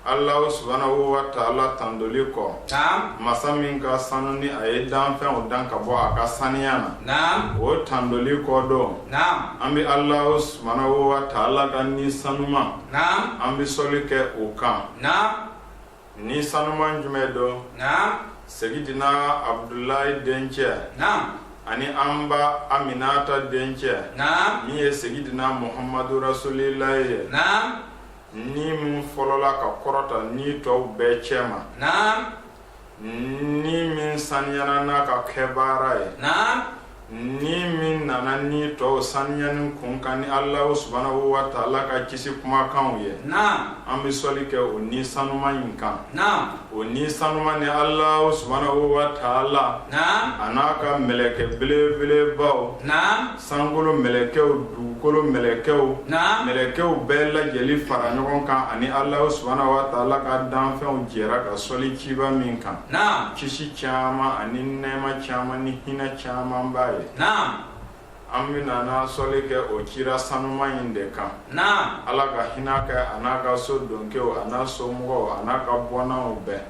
Ala subahanahu wataala tandoli kɔ masa min ka sanu ni a ye danfɛnw dan ka bɔ a ka saniya na o tandoli kɔ don an bɛ ala subahanahu wataala ka ni sanuma an bɛ sɔli kɛ o kan ni sanuma jumɛn don seyidina abudulayi dencɛ ani an ba aminata dencɛ min ye seyidina muhamadu rasulilayi ye ni min fɔlɔla ka kɔrɔta ni tɔw bɛɛ cɛ ma ni min saniyara n'a ka kɛbaara ye ni min nana ni tɔw saniyani kun kan ni alahu subahanahu wataala ka kisi kumakan ye an bɛ sɔli kɛ o ni sanuma in kan o ni sanuma ni alahu subahanahu wataala a n'a ka mɛlɛkɛ belebelebaw sankolo mɛlɛkɛw dugukolo mɛlɛkɛw mɛlɛkɛw bɛɛ lajɛli fara ɲɔgɔn kan ani ala subahanahu wataala ka danfɛnw jɛra ka sɔli ciba min kan kisi caman ani nɛma caman ni hinɛ camanba ye an bɛ sɔli kɛ o cira sanuma in de kan ala ka hinɛ kɛ a n'a ka so don kɛ a n'a somɔgɔw a n'a ka bɔnnaw bɛɛ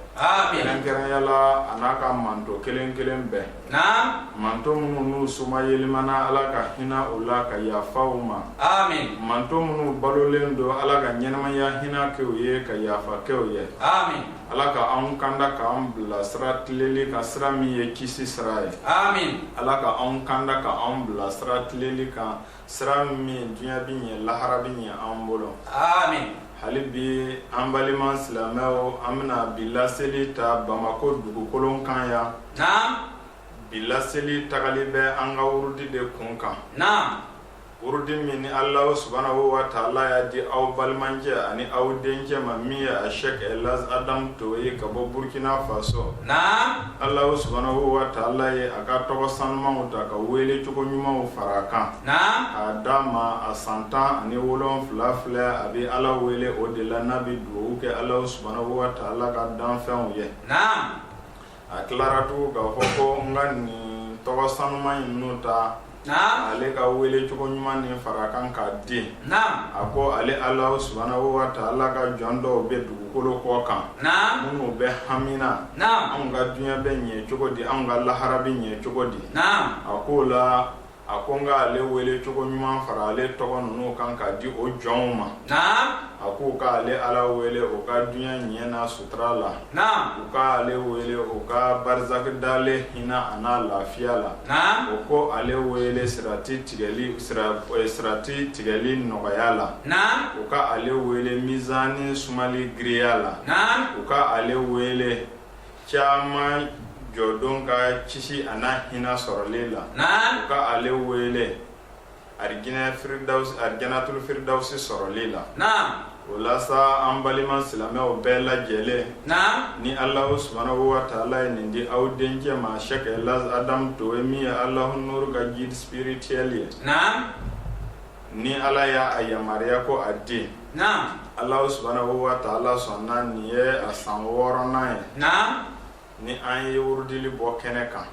kɛrɛnkɛrɛnya la a n'a ka manto kelen kelen bɛɛ Naamu, manto minnu n'u somayɛlɛmana Ala ka hinɛ u la ka yafa u ma, aami, manto minnu balolen don Ala ka ɲɛnamaya hinɛ kɛ u ye ka yafa kɛ u ye, aami, Ala ka anw kanda ka anw bila sira tileli kan sira min ye kisi sira ye, aami, Ala ka anw kanda ka anw bila sira tileli kan sira min dunya bɛ ɲɛ lahara bɛ ɲɛ an bolo amin hali bi an balima silamɛw an bɛna bi laseli ta Bamakɔ dugukolo kan yan naam bi laseli tagali bɛ an ka wurudi de kun kan naam wurudi min ni Alahu subahanahu wataala y'a di aw balimacɛ ani aw dencɛ ma min ye Sɛki Elaji Adamu Togo ye ka bɔ Burukina Faso naam Alahu subahanahu wataala ye a ka tɔgɔ sanumanw ta ka wele cogo ɲumanw fara a kan k'a d'a ma a san tan ani wolonfila filɛ a bɛ ala wele o de la n'a bɛ dugawu kɛ alahu subahanahu wataala ka danfɛnw ye a tilara tugu k'a fɔ ko n ka nin tɔgɔ sanuma in ta ale ka wele cogo ɲuman ni fara kan ka di a ko ale ala subahanahu wataala ka jɔn dɔw bɛ dugukolo kɔ kan minnu bɛ hamina anw ka dunya bɛ ɲɛ cogo di an ka lahara bɛ ɲɛ cogo di a ko o la a ko n ka ale wele cogo ɲuman fara ale tɔgɔ ninnu kan ka di o jɔnw ma a k'u k'ale ala wele o ka dunya ɲɛ na so la u k'ale wele u ka barazaki dalen hinɛ a n'a lafiya la u ko ale wele sirati tigɛli nɔgɔya la u ka ale wele mizani sumali girinya la u ka ale wele kiyama jɔdon ka kisi a n'a hinɛ sɔrɔli la u ka ale wele alijanatul firidawsi sɔrɔli la o la sa an balima silamɛw bɛɛ lajɛlen ni alahu subahana watala ye nin di aw dencɛ ma sɛkɛ laji adamu toe min ye alahnuru ka guide spirituel ye ni ala y'a yamaruya ko a di alahu subahana watala sɔnna nin ye a san wɔɔrɔnan ye ni an ye wurudili bɔ kɛnɛ kan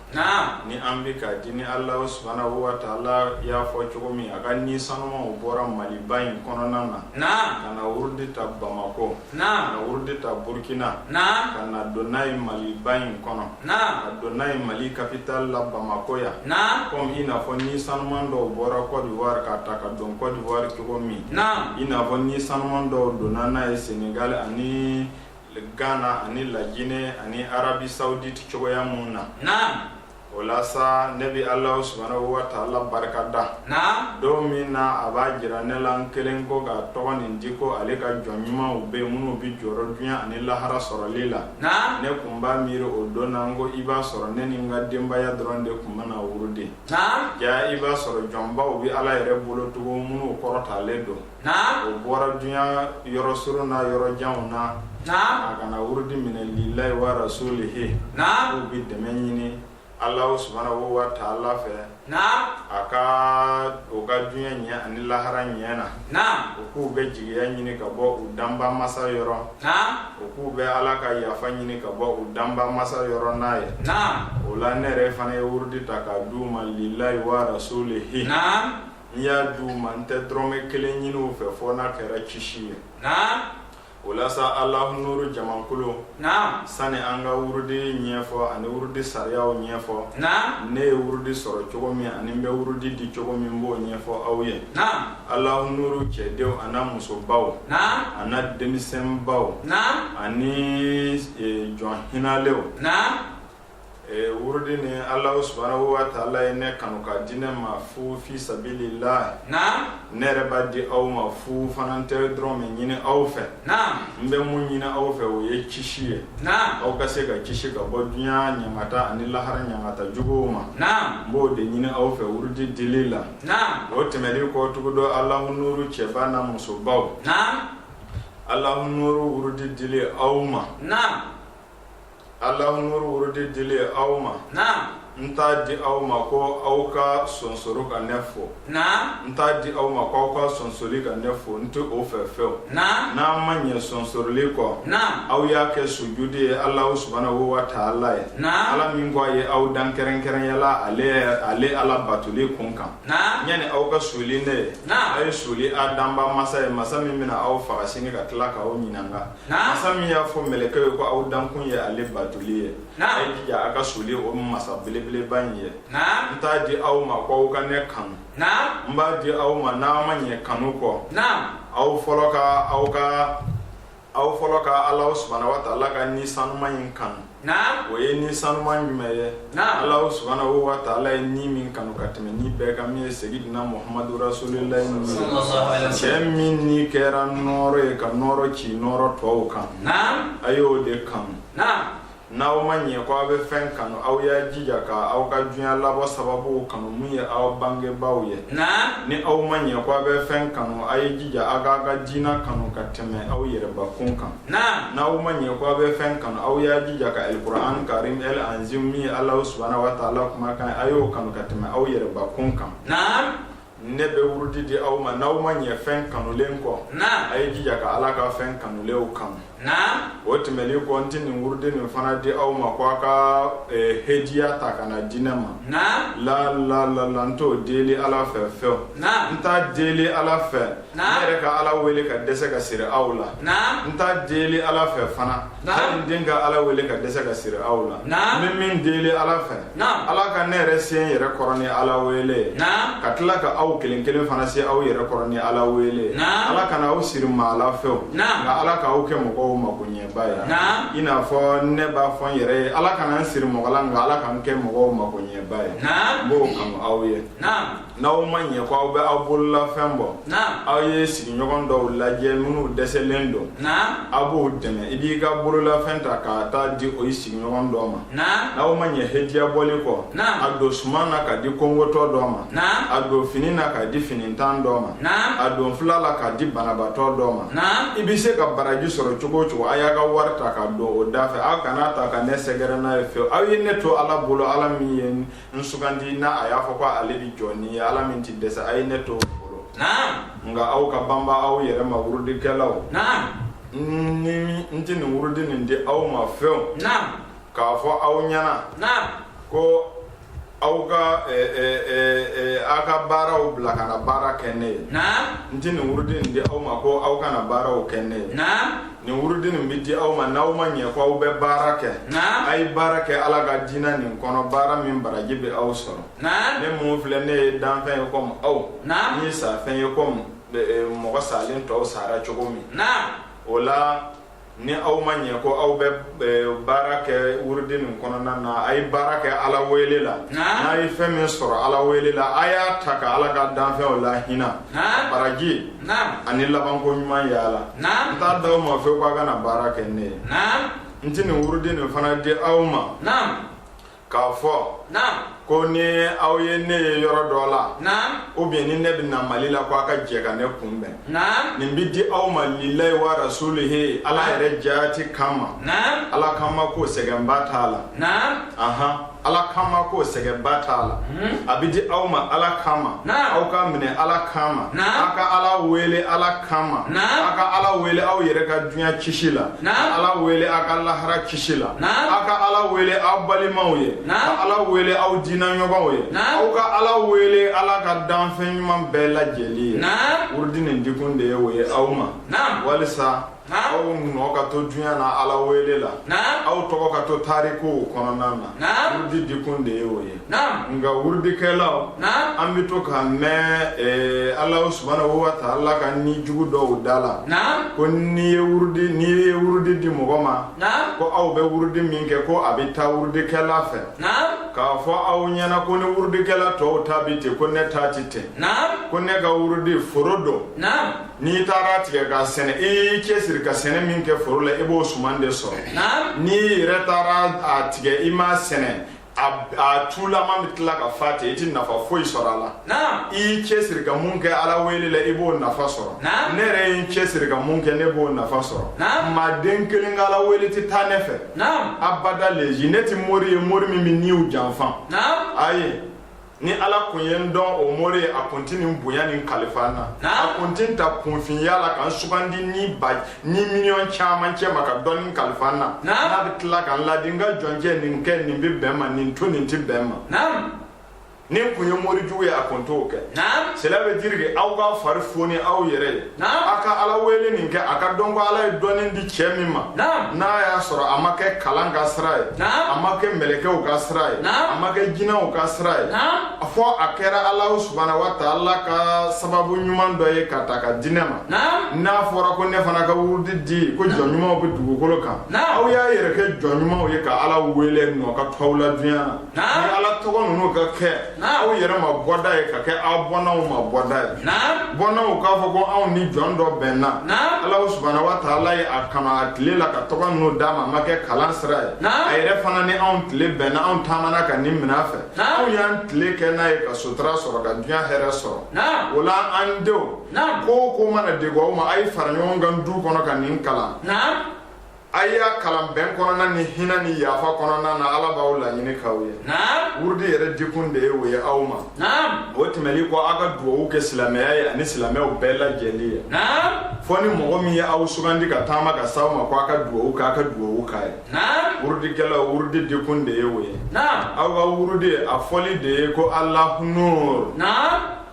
ni an bɛ k'a di ni ala subahana watala y'a fɔ cogo min a ka ni sanimanw bɔra maliba in kɔnɔna na ka na wurudi ta bamakɔ ka na wurudi ta burukina ka na don n'a ye maliba in kɔnɔ ka don n'a ye mali kapitali la bamakɔ yan komi i n'a fɔ ni saniman dɔw bɔra kɔdiwa k'a ta ka don kɔdiwa cogo min i n'a fɔ ni saniman dɔw donna n'a ye senegali ani Ghana ani La Guinee ani Arabie Saoudite cogoya minnu na, naamu, o la sa ne bɛ Allahou Soubhanaou wa taala barika da, naamu, don min na a b'a jira ne la n kelen ko k'a tɔgɔ nin di ko ale ka jɔn ɲumanw bɛ yen minnu bɛ jɔrɔ dunya ani lahara sɔrɔli la, naamu, ne tun b'a miiri o don na ko i b'a sɔrɔ ne ni n ka denbaya dɔrɔn de tun bɛna wurudi, naamu, jaa i b'a sɔrɔ jɔnbaw bɛ Ala yɛrɛ bolo tugun minnu kɔrɔtalen don. o bɔra dunya yɔrɔ surun na yɔrɔ janw na a ka na wurudi minɛ lilahi wa rasulihi k'u bɛ dɛmɛ ɲini Alahu subahana watala fɛ a ka o ka dunya ɲɛ ani lahara ɲɛ na u k'u bɛ jigiya ɲini ka bɔ u danba masa yɔrɔ u k'u bɛ Ala ka yafa ɲini ka bɔ u danba masa yɔrɔ n'a ye o la ne yɛrɛ fana ye wurudi ta k'a d'u ma lilahi wa rasulihi n y'a di u ma n tɛ dɔrɔmɛ kelen ɲini u fɛ fɔ n'a kɛra kisi ye o la sa alahnuru jamakulu sani an ka wurudi ɲɛfɔ ani wurudi sariyaw ɲɛfɔ ne ye wurudi sɔrɔ cogo min ani n bɛ wurudi di cogo min n b'o ɲɛfɔ aw ye alahnuru cɛdenw a n'a musobaw a n'a denmisɛnbaw ani jɔn hinɛlenw Ee wurudi ni Alahu subahana watala ye ne kanu k'a di ne ma fu fi sabili laahi, naamu, ne yɛrɛ b'a di aw ma fu fana n tɛ dɔrɔmɛ ɲini aw fɛ, naamu, n bɛ mun ɲini aw fɛ o ye kisi ye, naamu, aw ka se ka kisi ka bɔ dunya ɲangata ani lahara ɲangata juguw ma, naamu, n b'o de ɲini aw fɛ wurudi dili la, naamu, o tɛmɛnen kɔ tugu dɔ Alahu nuuru cɛba n'a musobaw, naamu, Alahu nuuru wurudi dili aw ma, naamu. Alahu nuuru wurudi dili aw ma n t'a di aw ma ko aw ka sonsoro ka ne fo n t'a di aw ma ko aw ka sonsoro ka ne fo n tɛ o fɛ fewu n'a ma ɲɛ sonsoroli kɔ aw y'a kɛ sujudi ye ala subahanahu wa taala ye ala min ko a ye aw dan kɛrɛnkɛrɛnya la ale ala batoli kun kan yanni aw ka suuli ne ye aw ye suuli a danbaa masa ye masa min bɛna aw faga sini ka tila k'aw ɲininka masa min y'a fɔ mɛlɛkɛw ye ko aw dankun ye ale batoli ye a ye jija a ka suuli o masa belebeleba in ye n t'a di aw ma ko aw ka ne kanu n b'a di aw ma n'aw ma ɲɛ kanu kɔ aw fɔlɔ ka aw ka aw fɔlɔ ka ala subahana wa taala ka ni sanuma in kanu naam o ye ni sanuma jumɛn ye naam Alahu subahanahu wa taala ye ni min kanu ka tɛmɛ ni bɛɛ kan min ye segidina Muhamadu rasulilahi ni ye cɛ min ni kɛra nɔɔrɔ ye ka nɔɔrɔ ci nɔɔrɔ tɔw kan naam a y'o de kanu naam n'aw ma ɲɛ ko aw bɛ fɛn kanu aw y'a jija ka aw ka duɲa labɔ sababuw kanu min ye aw bangebaaw ye naam ni aw ma ɲɛ ko aw bɛ fɛn kanu a ye jija aw k'a ka diina kanu ka tɛmɛ aw yɛrɛbakun kan Naam. N'aw ma ɲɛ ko aw bɛ fɛn kanu, aw y'a jija ka alikuranɛ karim El anzim min ye Alahu subahana watala kumakan ye, a y'o kanu ka tɛmɛ aw yɛrɛbakun kan. Naam. Ne bɛ wurudi di aw ma, n'aw ma ɲɛ fɛn kanulen kɔ. Naam. A ye jija ka Ala ka fɛn kanulenw kanu. Naam. O tɛmɛnen kɔ, n tɛ nin wurudi nin fana di aw ma ko aw ka ɛɛ hediya ta ka n'a di ne ma. Naam. La la la la n t'o deli Ala fɛ fiyew. Naam. N t'a deli Ala fɛ N yɛrɛ ka ala wele ka dɛsɛ ka siri aw la n t'a deli ala fɛ fana den ka ala wele ka dɛsɛ ka siri aw la n bɛ min deli ala fɛ ala ka ne yɛrɛ se n yɛrɛ kɔrɔ ni ala wele ye ka tila ka aw kelen kelen fana se aw yɛrɛ kɔrɔ ni ala wele ye ala kana aw siri maa la fewu nka ala ka aw kɛ mɔgɔw makoɲɛbaa ye i n'a fɔ ne b'a fɔ n yɛrɛ ye ala kana n siri mɔgɔ la nka ala ka n kɛ mɔgɔw makoɲɛbaa ye n b'o kanu aw ye n'aw ma ɲɛ ko aw bɛ aw bololafɛn bɔ aw ye sigiɲɔgɔn dɔw lajɛ minnu dɛsɛlen don aw b'o dɛmɛ i b'i ka bololafɛn ta ka taa di o ye sigiɲɔgɔn dɔ ma n'aw ma ɲɛ hadiya bɔli kɔ a don suman na k'a di kɔngotɔ dɔ ma a don fini na k'a di finintan dɔ ma a don fila la k'a di banabatɔ dɔ ma i bɛ se ka baraji sɔrɔ cogo cogo a y'a ka wari ta k'a don o da fɛ aw kana ta ka ne sɛgɛrɛ n'a ye fewu aw ye ne to ala bolo ala min ye n sugandi n'a a y'a fɔ ko ale bi jɔ ni ye ala min ti dɛsɛ a ye ne to o bolo nka aw ka banba aw yɛrɛ ma wurudikɛlaw ni n ti nin wurudi nin di aw ma fewu k'a fɔ aw ɲɛna ko aw ka eh, eh, eh, aw ka baaraw bila ka na baara kɛ ne ye n tɛ nin wurudi in di aw ma ko aw ka na baaraw kɛ ne ye nin wurudi nin bɛ di aw ma n'aw ma ɲɛ ko aw bɛ baara kɛ a ye baara kɛ ala ka diinɛ nin kɔnɔ baara min baraji bɛ aw sɔrɔ ne min filɛ ne ye danfɛn ye kɔmi aw n ye safɛn ye kɔmi mɔgɔ salen tɔw sara cogo min o la ni aw ma ɲɛ ko aw bɛ baara kɛ wurudi nin kɔnɔna na a ye baara kɛ ala wele la n'a ye fɛn min sɔrɔ ala wele la a y'a ta ka ala ka danfɛnw lahinɛ baraji ani labanko ɲuman yala n t'a di aw ma fewu ko a ka na baara kɛ ne ye n tɛ nin wurudi nin fana di aw ma k'a fɔ ko ni aw ye ne ye yɔrɔ dɔ la o bɛ ni ne bɛ na mali la ko aw ka jɛ ka ne kunbɛn nin bɛ di aw ma lilayi wa rasulihi ala yɛrɛ jati kama ala kama ko sɛgɛnba t'a la ala kama ko sɛgɛnba t'a la hmm? a bɛ di aw ma ala kama aw k'a minɛ ala kama aw ka ala wele ala kama aw ka ala wele aw yɛrɛ ka dunya kisi la ala wele aw ka lahara kisi la aw ka ala wele aw balimaw ye ka ala wele aw diinaɲɔgɔnw ye aw ka ala wele ala ka danfɛn ɲuman bɛɛ lajɛlen ye wurudi nin dikun de ye o ye aw ma walisa Naam. aw nɔ ka to dunya na ala wele la Naam. aw tɔgɔ ka to tarikuw kɔnɔna na Naam. wurudi dikun de ye o ye Naam. nka wurudikɛlaw Naam. an bɛ to ka mɛn eh, ala subhanahu wa taala ka ni jugu dɔw da la Naam. ko n'i ye wurudi n'i ye wurudi di mɔgɔ ma Naam. ko aw bɛ wurudi min kɛ ko a bɛ taa wurudikɛla fɛ Naam. k'a fɔ aw ɲɛna ko ni wurudikɛla tɔw ta bɛ ten ko ne ta tɛ ten Naam. ko ne ka wurudi foro don Naam. N'i taar'a tigɛ k'a sɛnɛ i cɛ siri ka sɛnɛ min kɛ foro la i b'o suman de sɔrɔ n'i yɛrɛ taar'a tigɛ i m'a sɛnɛ a tulama bɛ tila ka fa ten i tɛ nafa foyi sɔrɔ a la i cɛ siri ka mun kɛ ala wele la i b'o nafa sɔrɔ ne yɛrɛ ye n cɛ siri ka mun kɛ ne b'o nafa sɔrɔ maa den kelen ka ala wele tɛ taa ne fɛ abada la yajuz ne tɛ mori ye mori min bɛ niw janfa ayi ni ala kun ye n dɔn o mori ye a kun ti nin bonya nin kalifa n na a kun ti n ta kunfinya la ka n sugandi ni ba ni miliyɔn caman cɛma ka dɔnni kalifa n na n'a bɛ tila ka n laadi n ka jɔncɛ nin kɛ nin bɛ bɛn ma nin to nin ti bɛn ma ni n kun ye mori jugu ye a kun t'o kɛ sɛlɛ bɛ jirike aw ka fari foni aw yɛrɛ ye a ka ala wele nin kɛ a ka dɔn ko ala ye dɔnni di cɛ min ma n'a y'a sɔrɔ a ma kɛ kalan ka sira ye a ma kɛ mɛlɛkɛw ka sira ye a ma kɛ jinɛw ka sira ye fɔ a kɛra ala subana wa taala ka sababu ɲuman dɔ ye ka ta ka di ne ma n'a fɔra ko ne fana ka wurudi di ko jɔn ɲumanw bɛ dugukolo kan aw y'a yɛrɛ kɛ jɔn ɲumanw ye ka ala wele nɔ ka tɔw la duniɲa na ye ala tɔgɔ ninnu ka kɛ aw yɛrɛ ma bɔda ye ka kɛ aw bɔnnaw ma bɔda ye bɔnnaw k'a fɔ ko anw ni jɔn dɔ bɛnna ala subana wa taala ye a k'a ma a tile la ka tɔgɔ ninnu d'a ma a ma kɛ kalan sira ye a yɛrɛ fana ni anw tile bɛnna anw taamana ka nin min'a fɛ anw y'an tile kɛ n'a ye ka sutura sɔrɔ ka diɲɛ hɛrɛ sɔrɔ o la an denw ko o ko mana degun aw ma a ye fara ɲɔgɔn kan du kɔnɔ ka nin kalan a y'a kalan bɛn kɔnɔna ni hinɛ ni yafa kɔnɔna na ala b'aw laɲini k'aw ye wurudi yɛrɛ dikun de ye o ye aw ma o tɛmɛli kɔ aw ka dugawu kɛ silamɛya ye ani silamɛw bɛɛ lajɛli ye fɔ ni mɔgɔ min ye aw sugandi ka taama ka s'aw ma ko aw ka dugawu k'a ka dugawu k'a ye wurudikɛlaw wurudi dikun de ye o ye aw ka wurudi a fɔli de ye ko alahu nuur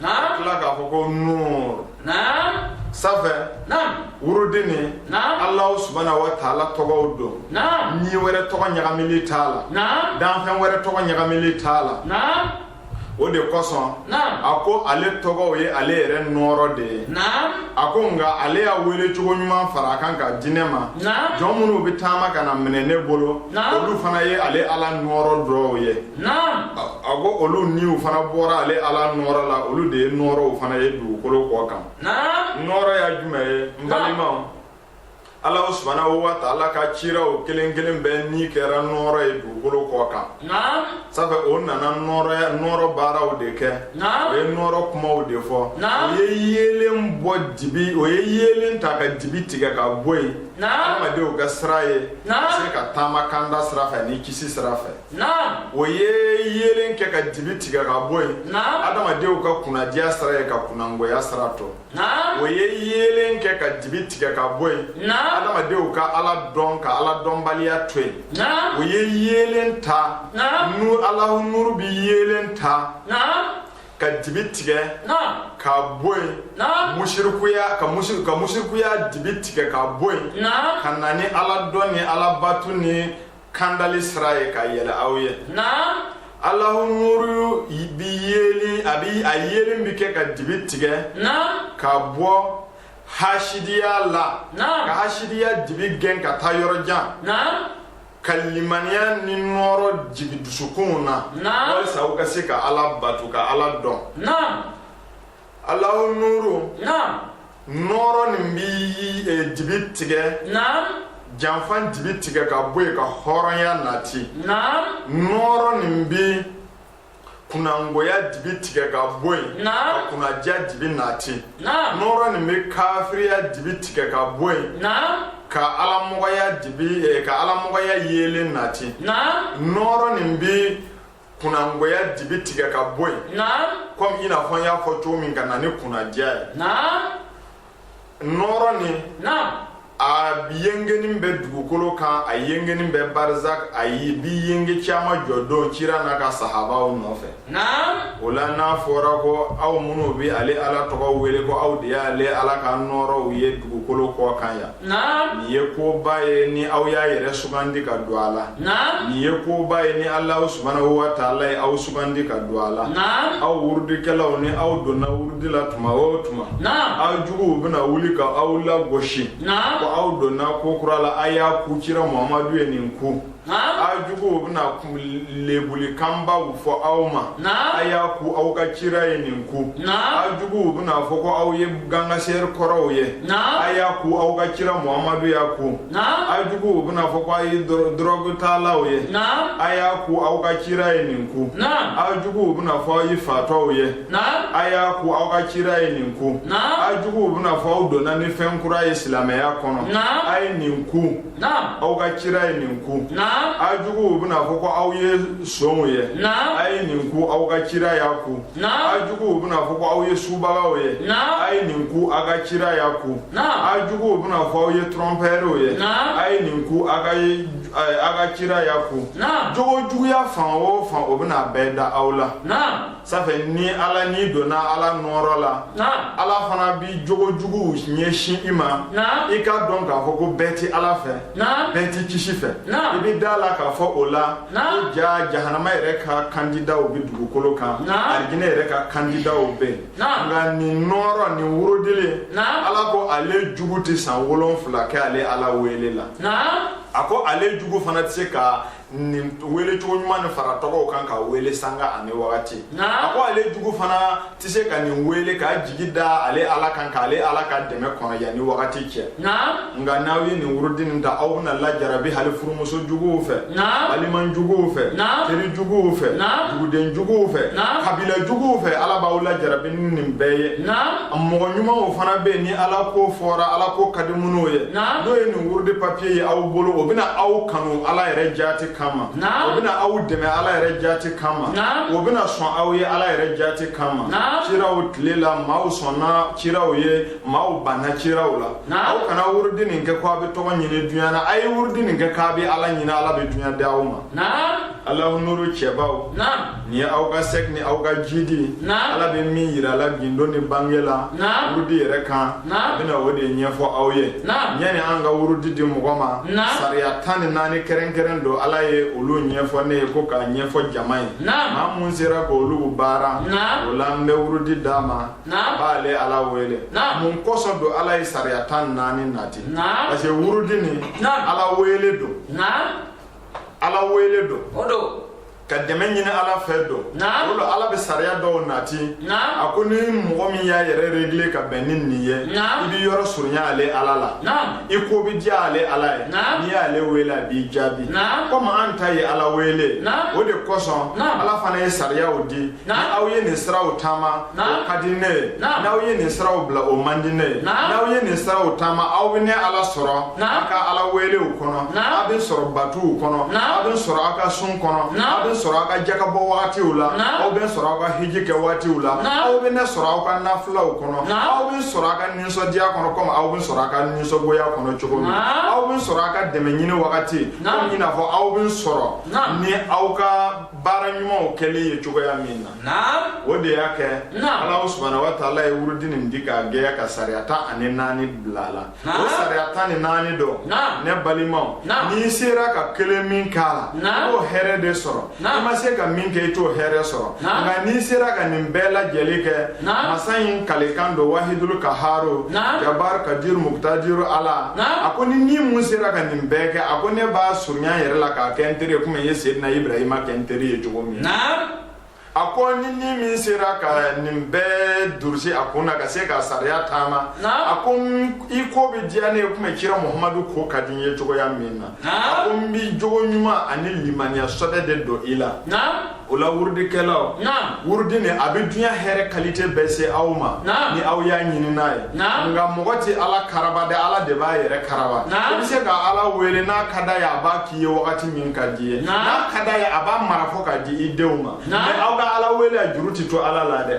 Naam. Tila k'a fɔ ko nuur. Naam. Safɛ. Naam. Wurudi nin. Naam. Alahu subahana wa taala tɔgɔw don. Naam. Ni wɛrɛ tɔgɔ ɲagamili t'a la. Naam. Danfɛn wɛrɛ tɔgɔ ɲagamili t'a la. Naam. o de kosɔn a ko ale tɔgɔw ye ale yɛrɛ nɔɔrɔ de ye a ko nka ale y'a welecogo ɲuman fara a kan ka di ne ma jɔn minnu bɛ taama ka n'a minɛ ne bolo olu fana ye ale ala nɔɔrɔ dɔw ye a ko olu niw fana bɔra ale ala nɔɔrɔ la olu de ye nɔɔrɔw fana ye dugukolo kɔ kan nɔɔrɔya jumɛn ye n balimaw ala subana wa taala ka ciraw kelen kelen bɛɛ ni kɛra nɔɔrɔ ye dugukolo kɔ kan safɛ o nana nɔɔrɔya nɔɔrɔ baaraw de kɛ o ye nɔɔrɔ kumaw de fɔ o ye yeelen bɔ dibi o ye yeelen ta ka dibi tigɛ ka bɔ yen adamadenw ka sira ye se ka taama kanda sira fɛ ni kisi sira fɛ naam o ye yeelen kɛ ka dibi tigɛ ka bɔ yen naam adamadenw ka kunnadiya sira ye ka kunnangoya sira to naam o ye yeelen kɛ ka dibi tigɛ ka bɔ yen naam adamadenw ka ala dɔn ka ala dɔnbaliya to yen naam o ye yeelen ta naam nu alahu nuru bi yeelen ta naam ka dibi tigɛ ka bɔ yen musirikuya ka musir ka musirikuya dibi tigɛ ka bɔ yen ka na ni ala dɔn ni ala batu ni kandali sira ye ka yɛlɛ aw ye naam alahu nuru bi yeli a bi a yeelen bi kɛ ka dibi tigɛ naam ka bɔ hasidiya la naam ka hasidiya dibi gɛn ka taa yɔrɔ jan naam ka limaniya ni nɔɔrɔ jigi dusukunw na naam walisa u ka se ka ala bato ka ala dɔn naam alahu nuru naam nɔɔrɔ nin bi eh, dibi tigɛ naam janfa dibi tigɛ ka bɔ yen ka hɔrɔnya nati naam nɔɔrɔ nin bi kunnangoya dibi tigɛ ka bɔ yen ka kunnadiya dibi nati nɔɔrɔ nin bi kafiriya dibi tigɛ ka bɔ yen ka alamɔgɔya dibi eh, ka alamɔgɔya yeelen nati nɔɔrɔ nin bi kunnangoya dibi tigɛ ka bɔ yen komi i n'a fɔ n y'a fɔ cogo min ka na ni kunnadiya ye nɔɔrɔ nin a yengenin bɛ dugukolo kan a yengenin bɛ barzak a bi yenge kiyama jɔ don kira n'a ka sahabaw nɔfɛ o la n'a fɔra ko aw minnu bɛ ale ala tɔgɔ wele ko aw de y'ale ala ka nɔɔrɔw ye dugukolo kɔ kan yan Naam. Nin ye koba ye ni aw y'a yɛrɛ sugandi ka don a la. Naam. Nin ye koba ye ni Alahu subahanahu wataala ye aw sugandi ka don a la. Naam. Aw wurudikɛlaw ni aw donna wurudi la tuma o tuma. Naam. Aw juguw bɛna wuli ka aw lagosi. Naam. Ko aw donna ko kura la, a y'a ku kira Muhamadu ye nin ku. a juguw bɛna lebulikanbaw fɔ aw ma a y'a ku aw ka kira ye nin ku aw juguw bɛna fɔ ko aw ye gangaseri kɔrɔw ye a y'a ku aw ka kira muhamadu y'a ku aw juguw bɛna fɔ ko a ye dɔrɔgutalaw ye a y'a ku aw ka kira ye nin ku aw juguw bɛna fɔ aw ye fatɔw ye a y'a ku aw ka kira ye nin ku aw juguw bɛna fɔ aw donna ni fɛn kura ye silamɛya kɔnɔ a ye nin ku aw ka kira ye nin ku a juguw bɛna fɔ ko aw ye sonw ye a ye nin ku aw ka kira y'a ku a juguw bɛna fɔ ko aw ye subagaw ye a ye nin ku a ka kira y'a ku a juguw bɛna fɔ aw ye trɔnpɛriw ye a ye nin ku a ka ye a ka kira y'a ku jogojuguya fan o fan u bɛna a bɛɛ da aw la ça fait ni ala n'i donna ala nɔɔrɔ la ala fana bɛ jogojuguw ɲɛsin i ma i k'a dɔn k'a fɔ ko bɛɛ tɛ ala fɛ bɛɛ tɛ kisi fɛ i bɛ da a la k'a fɔ o la ko ja jahanama yɛrɛ ka kandidaw bɛ dugukolo kan alijinɛ yɛrɛ ka kandidaw bɛ yen nka nin nɔɔrɔ nin wurudilen ala ko ale jugu tɛ san wolonfila kɛ ale ala wele la a ko ale jugu fana tɛ se ka nin wele cogo ɲuman nin fara tɔgɔw kan ka wele sanga ani wagati a ko ale jugu fana tɛ se ka nin wele k'a jigi da ale ala kan ka ale ala ka dɛmɛ kɔnɔ yan ni wagati cɛ nka n'aw ye nin wurudi nin ta aw bɛna lajarabi hali furumuso juguw fɛ baliman juguw fɛ teri juguw fɛ duguden juguw fɛ kabila juguw fɛ ala b'aw lajarabi nin bɛɛ ye mɔgɔ ɲumanw fana bɛ yen ni ala ko fɔra ala ko ka di minnu ye n'o ye nin wurudi papiye ye aw bolo o bɛna aw kanu ala yɛrɛ jaati kama o bɛna aw dɛmɛ ala yɛrɛ jaati kama o bɛna sɔn aw ye ala yɛrɛ jaati kama ciraw tile la maaw sɔnna ciraw ye maaw banna ciraw la aw kana wurudi nin kɛ ko a bɛ tɔgɔ ɲini dunya na a ye wurudi nin kɛ k'a bɛ ala ɲini ala bɛ dunya di aw ma Alahu nuru cɛbaw nin ye aw ka sɛki ni aw ka jidi ala bɛ min jira a la gundo ni bange la wurudi yɛrɛ kan a bɛna o de ɲɛfɔ aw ye yani an ka wurudi di mɔgɔ ma sariya tan ni naani kɛrɛnkɛrɛn don ala ye olu ɲɛfɔ ne ye ko k'a ɲɛfɔ jama ye maa min sera k'olu baara o la an bɛ wurudi d'a ma a b'ale ala wele mun kɔsɔn don ala ye sariya tan ni naani nati parce que wurudi nin ala wele don ala wele don ka dɛmɛ ɲini ala fɛ don o la ala bɛ sariya dɔw nati a ko ni mɔgɔ min y'a yɛrɛ regile ka bɛn ni nin ye i b'i yɔrɔ surunya ale ala la i ko bɛ diya ale ala ye n'i y'ale wele a b'i jaabi komi an ta ye ala wele o de kosɔn ala fana ye sariyaw di aw ye nin siraw taama o ka di ne ye n'aw ye nin siraw bila o man di ne ye n'aw ye nin siraw taama aw bɛ ne ala sɔrɔ aw ka ala welew kɔnɔ aw bɛ n sɔrɔ batuw kɔnɔ aw bɛ n sɔrɔ aw ka sun kɔnɔ aw bɛ n sɔrɔ aw ka jakabɔ wagatiw la aw bɛ n sɔrɔ aw ka hiji kɛ wagatiw la aw bɛ ne sɔrɔ aw ka nafilaw kɔnɔ aw bɛ n sɔrɔ aw ka nisɔndiya kɔnɔ komi aw bɛ n sɔrɔ aw ka nisɔngoya kɔnɔ cogo min aw bɛ n sɔrɔ aw ka dɛmɛ ɲini wagati komi i n'a fɔ aw bɛ n sɔrɔ ni aw ka baara ɲumanw kɛli ye cogoya min na o de y'a kɛ ala subhanahu wa taala ye wurudi nin di k'a gɛya ka sariya tan ani naani bila a la o sariya tan ni naani dɔ ne balimaw n'i sera ka kelen min kɛ a la i b'o hɛrɛ de sɔrɔ i ma se ka min kɛ i t'o hɛrɛ sɔrɔ nka n'i sera ka nin bɛɛ lajɛlen kɛ masa in kalikan don wahidulu kaharo jabar kadiru mukutadiru ala a ko ni ni min sera ka nin bɛɛ kɛ a ko ne b'a surunya n yɛrɛ la k'a kɛ n teri ye komi n ye sedina ibrahima kɛ n teri ye cogo min a ko ni ni min sera ka nin bɛɛ durusi a kun na ka se ka sariya taama a ko i ko bɛ diya ne ye komi kira muhamadu ko ka di n ye cogoya min na a ko n bɛ jogo ɲuman ani limaniya sɔbɛ de don i la o la wurudikɛlaw wurudi nin a bɛ dunya hɛrɛ kalite bɛɛ se aw ma ni aw y'a ɲini n'a ye nka mɔgɔ tɛ ala karaba dɛ ala de b'a yɛrɛ karaba i bɛ se ka ala wele n'a ka d'a ye a b'a k'i ye wagati min ka di ye n'a ka d'a ye a b'a mara fo k'a di i denw ma mɛ aw ka ala wele a juru tɛ to ala la dɛ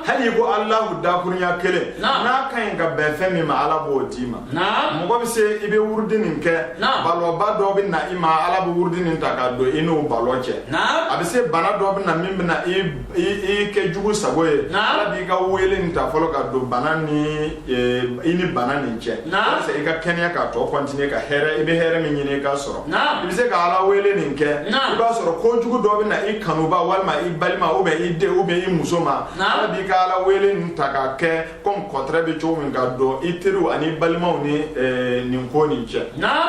hali i ko alahu dakurunya kelen n'a ka ɲi ka bɛn fɛn min ma ala b'o d'i ma mɔgɔ bɛ se i bɛ wurudi nin kɛ balɔba dɔ bɛ na i ma ala bɛ wurudi nin ta k'a don i n'o balɔ cɛ a bɛ se bana dɔ bɛ na min bɛ na i kɛ jugu sago ye ala b'i ka wele nin ta fɔlɔ k'a don i ni bana nin cɛ yaasa i ka kɛnɛya k'a tɔ kɔntinye ka hɛrɛ i bɛ hɛrɛ min ɲini i ka sɔrɔ i bɛ se ka ala wele nin kɛ i b'a sɔrɔ ko jugu dɔ bɛ na i kanuba walima i balima ou bien i denw ou bien i muso ma ala b'i ka ala wele nin ta k'a kɛ comme contrat bɛ cogo min k'a don i teriw ani balimaw ni eh, nin ko nin cɛ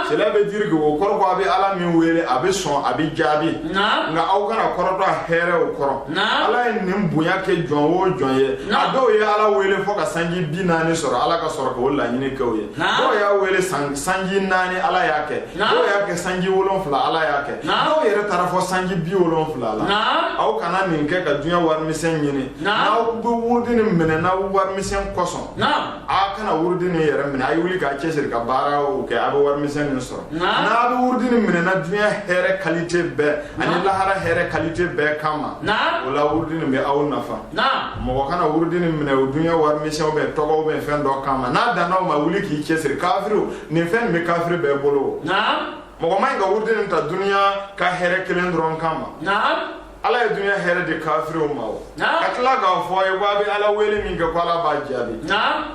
cela veut dire que o kɔrɔ ko a bɛ ala min wele a bɛ sɔn a bɛ jaabi nka aw kana kɔrɔtɔ a hɛrɛw kɔrɔ ala ye nin bonya kɛ jɔn o jɔn ye a dɔw ye ala wele fo ka sanji bi naani sɔrɔ ala ka sɔrɔ k'o laɲini kɛ o ye dɔw y'a wele sanji naani ala y'a kɛ dɔw y'a kɛ sanji wolonfila ala y'a kɛ dɔw yɛrɛ taara fo sanji bi wolonfila la aw kana nin kɛ ka dunya warimisɛn ɲini N'aw bɛ wurudi nin minɛ na warimisɛn kosɔn, naamu, aw kana wurudi nin yɛrɛ minɛ, a ye wuli k'a cɛsiri ka baaraw kɛ a bɛ warimisɛn nin sɔrɔ, naamu, n'a bɛ wurudi nin minɛ na dunya hɛrɛ qualité bɛɛ ani lahara hɛrɛ qualité bɛɛ kama, naamu, o la wurudi nin bɛ aw nafa, naamu, mɔgɔ kana wurudi nin minɛ o dunya warimisɛn ou bien tɔgɔ ou bien fɛn dɔ kama n'a danna o ma wuli k'i cɛsiri kafiriw nin fɛn in bɛ kafiri bɛɛ bolo, naamu, mɔgɔ man ɲi ka wurudi nin ta dunya ka hɛrɛ kelen dɔrɔn kama, naamu ala ye dunya hɛrɛ di kafiriw ma o ka tila k'a fɔ a ye ko a bɛ ala wele min kɛ ko ala b'a jaabi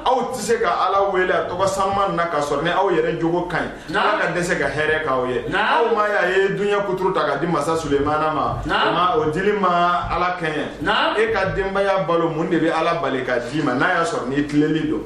aw tɛ se ka ala wele a tɔgɔ sanuman na ka sɔrɔ ni aw yɛrɛ jogo ka ɲi ala ka dɛsɛ ka hɛrɛ k'aw ye aw m'a ye a ye dunya kuturu ta k'a di masa sulemana ma o ma o dili ma ala kɛɲɛ e ka denbaya balo mun de bɛ ala bali k'a d'i ma n'a y'a sɔrɔ n'i tilennen don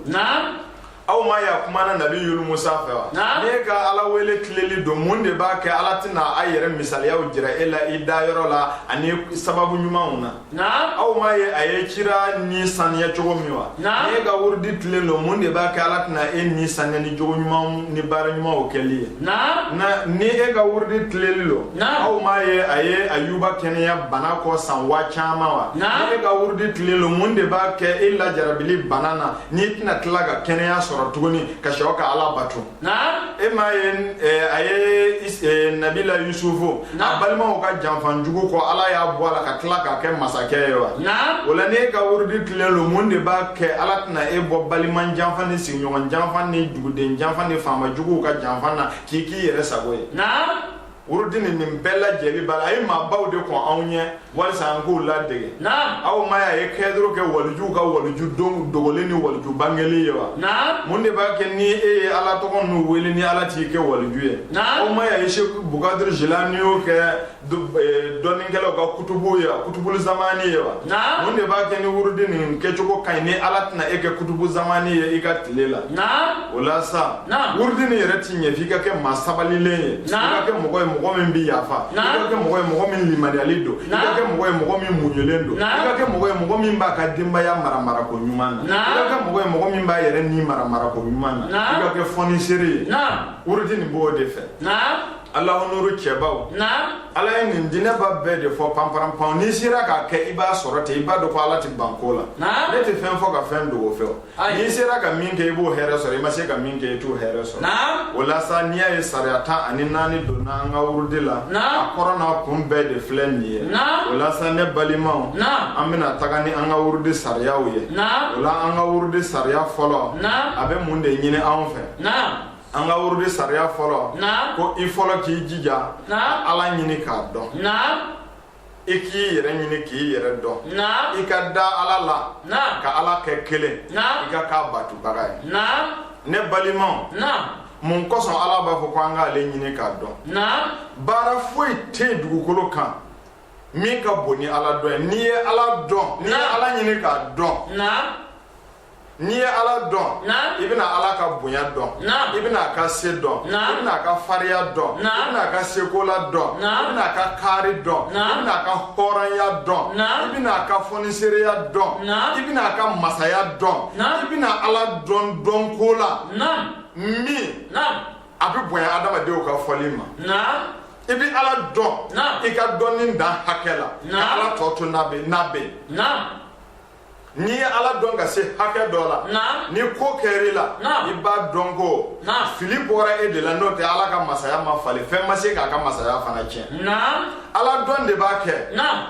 aw m'a ye a kumana nabi yulu musa fɛ wa n'e ka ala wele tilennen don mun de b'a kɛ ala tɛna a yɛrɛ misaliyaw jira e la i da yɔrɔ la ani sababu ɲumanw na aw m'a ye a ye cira ni saniya cogo min wa n'e ka wurudi tilennen don mun de b'a kɛ ala tɛna e ni saniya ni jogo ɲumanw ni baara ɲumanw kɛli ye ni e ka wurudi tilennen don aw m'a ye a ye ayuba kɛnɛya bana kɔ san waa caman wa n'e ka wurudi tilen don mun de b'a kɛ e lajarabilen bana na n'i tɛna tila ka kɛnɛya sɔrɔ tuguni ka se ka ala bato e m'a ye a ye nabila yusufu a balimaw ka janfan jugu kɔ ala y'a bɔ a la ka tila k'a kɛ masakɛ ye wa o la n'e ka wurudi tilen don mun de b'a kɛ ala tɛna e bɔ balima janfan ni sigiɲɔgɔn janfan ni duguden janfan ni faamajuguw ka janfan na k'i k'i yɛrɛ sago ye wurudini nin bɛɛ lajɛlen b'a la a ye maabaw de kɔn anw ɲɛ walisa an k'u ladege aw m'a y'a ye kɛdoro kɛ walijuw ka waliju dogolen ni waliju bangelen ye wa mun de b'a kɛ ni e ye ala tɔgɔ ninnu wele ni ala t'i kɛ waliju ye aw m'a y'a ye seku bukadiri jilaniyo kɛ e, dɔnnikɛlaw ka kutubu ye wa kutubu zamani ye wa mun de b'a kɛ ni wurudi nin kɛcogo ka ɲi ni ala tɛna e kɛ kutubu zamani ye i ka tile la o la sa wurudini yɛrɛ ti ɲɛ f'i ka kɛ maa sabalilen ye i ka kɛ mɔgɔ ye mɔgɔ min bi yafa i ka kɛ mɔgɔ ye mɔgɔ min limaniyalen don i ka kɛ mɔgɔ ye mɔgɔ min muɲulen don i ka kɛ mɔgɔ ye mɔgɔ min b'a ka denbaya mara marako ɲuman na i ka kɛ mɔgɔ ye mɔgɔ min b'a yɛrɛ ni mara marako ɲuman na i ka kɛ fɔnisere ye wurudini b'o de fɛ alahonoro cɛbaw ala ye nin dinɛba bɛɛ de fɔ panparanpan n'i sera k'a kɛ i b'a sɔrɔ ten i b'a dɔn ko ala tɛ ban ko la ne tɛ fɛn fɔ ka fɛn dogo fɛ n'i sera ka min kɛ i b'o hɛrɛ sɔrɔ i ma se ka min kɛ i t'o hɛrɛ sɔrɔ o la sa n'i y'a ye sariya tan ani naani donna an ka wurudi la a kɔrɔ n'a kun bɛɛ de filɛ nin ye o la sa ne balimaw an bɛna taga ni an ka wurudi sariyaw ye o la an ka wurudi sariya fɔlɔ a bɛ mun de ɲini anw fɛ an ka wurudi sariya fɔlɔ ko i fɔlɔ k'i jija ka ala ɲini k'a dɔn i k'i yɛrɛ ɲini k'i yɛrɛ dɔn i ka da ala la ka ala kɛ kelen i ka k'a batobaga ye ne balimaw mun kosɔn ala b'a fɔ ko an k'ale ɲini k'a dɔn baara foyi tɛ yen dugukolo kan min ka bon ni ala dɔn ye n'i ye ala dɔn n'i ye ala ɲini k'a dɔn n'i ye ala dɔn i bɛna ala ka bonya dɔn i bɛna a ka se dɔn i bɛna a ka fariya dɔn i bɛna a ka sekola dɔn i bɛna a ka kaari dɔn i bɛna a ka hɔrɔnya dɔn i bɛna a ka fɔnisereya dɔn i bɛna a ka masaya dɔn i bɛna ala dɔn dɔn ko la min a bɛ bonya adamadenw ka fɔli ma i bɛ ala dɔn i ka dɔnni dan hakɛ la ka ala tɔ to n'a bɛ n'a bɛ n'i ye ala dɔn ka se hakɛ dɔ la ni ko kɛr'i la i b'a dɔn ko fili bɔra e de la n'o tɛ ala ka masaya ma falen fɛn ma se k'a ka masaya fana tiɲɛ ala dɔn de b'a kɛ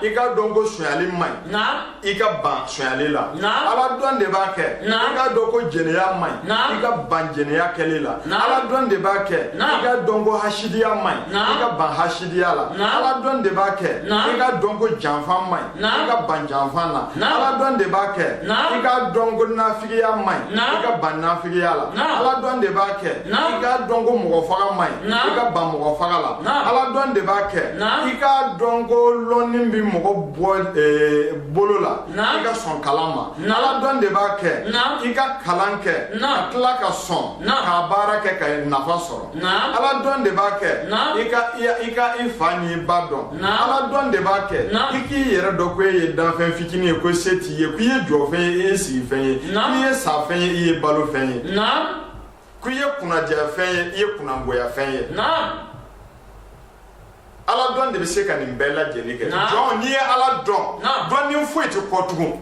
i ka dɔn ko sonyali man ɲi i ka ban sonyali la ala dɔn de b'a kɛ i ka dɔn ko jɛnɛya man ɲi i ka ban jɛnɛya kɛli la ala dɔn de b'a kɛ i ka dɔn ko hasidiya man ɲi i ka ban hasidiya la ala dɔn de b'a kɛ i ka dɔn ko janfa man ɲi i ka ban janfan na ala dɔn de b'a kɛ i ka dɔn ko nafigiya man ɲi i ka ban nafigiya la ala dɔn de b'a kɛ i ka dɔn ko mɔgɔ faga man ɲi i ka ban mɔgɔ faga la ala dɔn de b'a kɛ i ka dɔn ko lɔnni bɛ mɔgɔ bɔ eh, bolo la i ka sɔn kalan ma ala dɔn de b'a kɛ i ka kalan kɛ ka tila ka sɔn k'a baara kɛ ka nafa sɔrɔ ala dɔn de b'a kɛ i ka i fa ni ba dɔn ala dɔn de b'a kɛ i k'i yɛrɛ dɔn ko e ye danfɛn fitinin ye ko se t'i ye ko i ye jɔfɛn ye i ye sigifɛn ye i ye safɛn ye i ye balofɛn ye ko i ye kunnandiyafɛn ye i ye kunnangoyafɛn ye ala dɔn de bɛ se ka nin bɛɛ lajɛlen kɛ jɔn n'i ye ala dɔn dɔn ni foyi tɛ kɔ tugun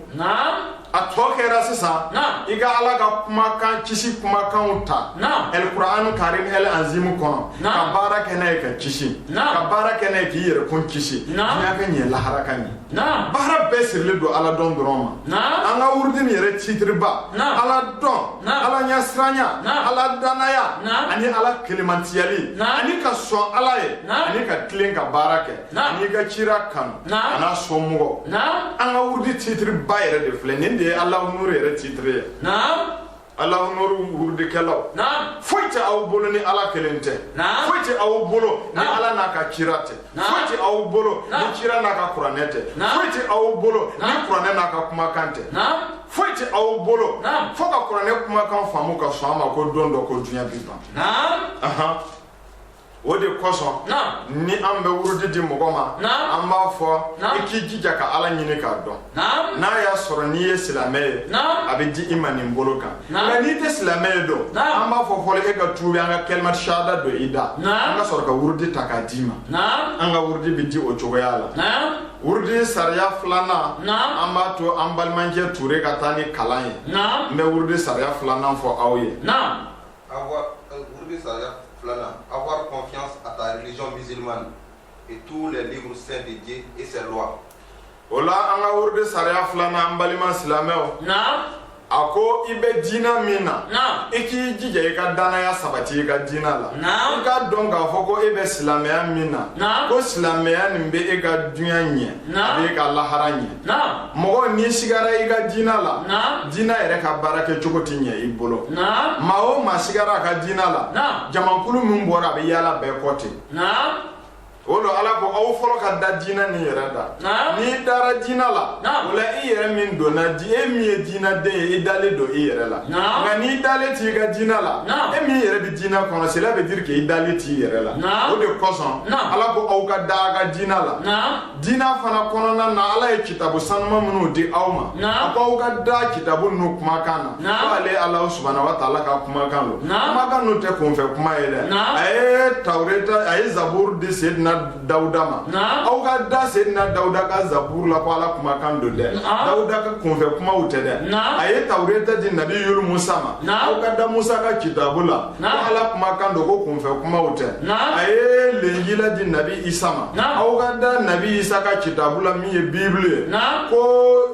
a tɔ kɛra sisan i ka ala ka kumakan kisi kumakanw ta alkur'an karim el anzimu kɔnɔ ka baara kɛ n'a ye ka kisi ka baara kɛ n'a ye k'i yɛrɛ kun kisi diɲɛ ka ɲɛ lahara ka ɲɛ baara bɛɛ sirilen don ala dɔn dɔrɔn ma an ka wurudi nin yɛrɛ titiriba ala dɔn ala ɲɛsiranya ala danaya ani ala kelenmantiyali ani ka sɔn ala ye ani ka tilen ka baara kɛ Naam. ni ka cira kanu Naam. an'a somɔgɔw Naam. an ka wurudi titiri ba yɛrɛ de filɛ nin de ye alahu nuru yɛrɛ titiri ye Naam. alahu nuru wurudikɛlaw Naam. foyi tɛ aw bolo ni ala kelen tɛ Naam. foyi tɛ aw bolo ni Naam. ala n'a ka cira tɛ Naam. foyi tɛ aw bolo ni Naam. cira n'a ka kuranɛ tɛ Naam. foyi tɛ aw bolo ni Naam. kuranɛ n'a ka kumakan tɛ Naam. foyi tɛ aw bolo Naam. fo ka kuranɛ kumakan faamu ka sɔn a ma ko don dɔ ko diɲɛ bi ban Naam. Ahan. o de kosɔn ni an bɛ wurudi di mɔgɔ ma an b'a fɔ i k'i jija ka ala ɲini k'a dɔn n'a y'a sɔrɔ n'i ye silamɛ ye a bɛ di i ma nin bolo kan nka n'i tɛ silamɛ ye dun an b'a fɔ fɔlɔ k'e ka tubi an ka kalima shahada don i da an ka sɔrɔ ka wurudi ta k'a d'i ma an ka wurudi bɛ di o cogoya la wurudi sariya filanan an b'a to an balimacɛ ture ka taa ni kalan ye n bɛ wurudi sariya filanan fɔ aw ye O la an ka wurudi sariya filanan an balima silamɛw a ko i bɛ diinɛ min na i k'i jija i ka danaya sabati i ka diinɛ la i k'a dɔn k'a fɔ ko e bɛ silamɛya min na ko silamɛya nin bɛ e ka duniɲa ɲɛ a b'i ka lahara ɲɛ Naam. Mɔgɔ n'i sigara i ka diina la. Naam. Diina yɛrɛ ka baara kɛ cogo ti ɲɛ i bolo. Naam. Maa o maa sigara a ka diina la. Naam. Jamakulu min bɔra a bɛ yaala bɛɛ kɔ ten. Naam. O la Ala ko aw fɔlɔ ka da diina nin yɛrɛ la. Naam. N'i dara diina la. Naam. O la i yɛrɛ min donna di e min ye diina den ye i dalen don i yɛrɛ la. Naam. Nka n'i dalen t'i ka diina la. Naam. E min yɛrɛ bɛ diina kɔnɔ cela veut dire que i dalen t'i yɛrɛ la. Naam. O de kosɔn. Naam. Ala ko aw ka da a ka diina la. Naam. Diinɛ fana kɔnɔna na Ala ye kitabu sanuma minnu di aw ma, naamu, a ko aw ka da kitabu ninnu kumakan na, naamu, ko ale Alahu subahana wataala ka kumakan don, naamu, kumakan ninnu tɛ kunfɛ kuma ye dɛ, naamu, a ye tawureta a ye zaburu di Seyidina Dawuda ma, naamu, aw ka da Seyidina Dawuda ka zaburu la ko Ala kumakan don dɛ, naamu, Dawuda ka kunfɛ kumaw tɛ dɛ, naamu, a ye tawureta di nabi Musa ma, naamu, aw ka da Musa ka kitabu la Naam. Ala kumakan don ko kunfɛ kumaw tɛ Naam. a ye lenjila di nabi isa ma Naam. aw ka da nabi isa ka kitabu la min ye bibulu ye Naam. ko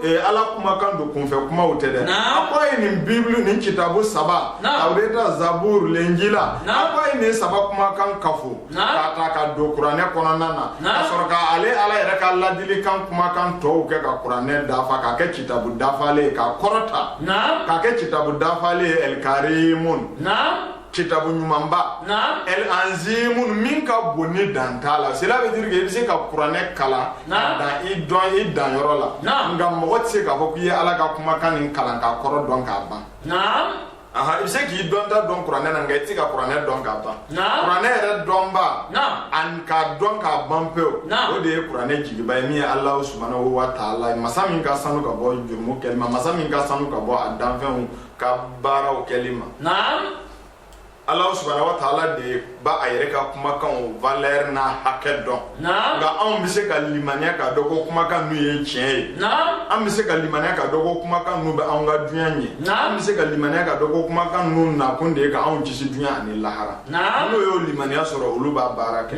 eh, ala kumakan don kunfɛ kumaw tɛ dɛ Naam. a ko a ye nin bibulu nin kitabu saba Naam. tawureta zaburu lenjila Naam. a ko a ye nin saba kumakan kafo k'a ta ka don kuranɛ kɔnɔna na ka sɔrɔ ka ale Ala yɛrɛ ka laadilikan kumakan tɔw kɛ ka kuranɛ dafa k'a kɛ kitabu dafalen ye k'a kɔrɔta k'a kɛ kitabu dafalen ye ɛlkarimun kitabu ɲumanba ɛl'anzimun min ka bon ni dan t'a la cela veut dire que i bɛ se ka kuranɛ kalan ka dan i dɔnni danyɔrɔ la nka mɔgɔ tɛ se k'a fɔ k'i ye Ala ka kumakan nin kalan k'a kɔrɔ dɔn k'a ban i bɛ se k'i dɔnta dɔn kuranɛ na nka i tɛ se ka kuranɛ dɔn k'a ban kuranɛ yɛrɛ dɔnba ani k'a dɔn k'a ban pewu o de ye kuranɛ jigiba ye min ye Alahu subahana wataala ye masa min ka sanu ka bɔ jurumu kɛli ma masa min ka sanu ka bɔ a danfɛnw ka baaraw kɛli ma Alahu subahana wataala de ye bɛ a yɛrɛ ka kumakan valeur n'a hakɛ dɔn nka anw bɛ se ka limaniya k'a dɔn ko kumakan ninnu ye tiɲɛ ye an bɛ se ka limaniya k'a dɔn ko kumakan ninnu bɛ anw ka dunya ɲɛ an bɛ se ka limaniya k'a dɔn ko kumakan ninnu nakun de ye ka anw kisi dunya ani lahara n'o y'o limaniya sɔrɔ olu b'a baara kɛ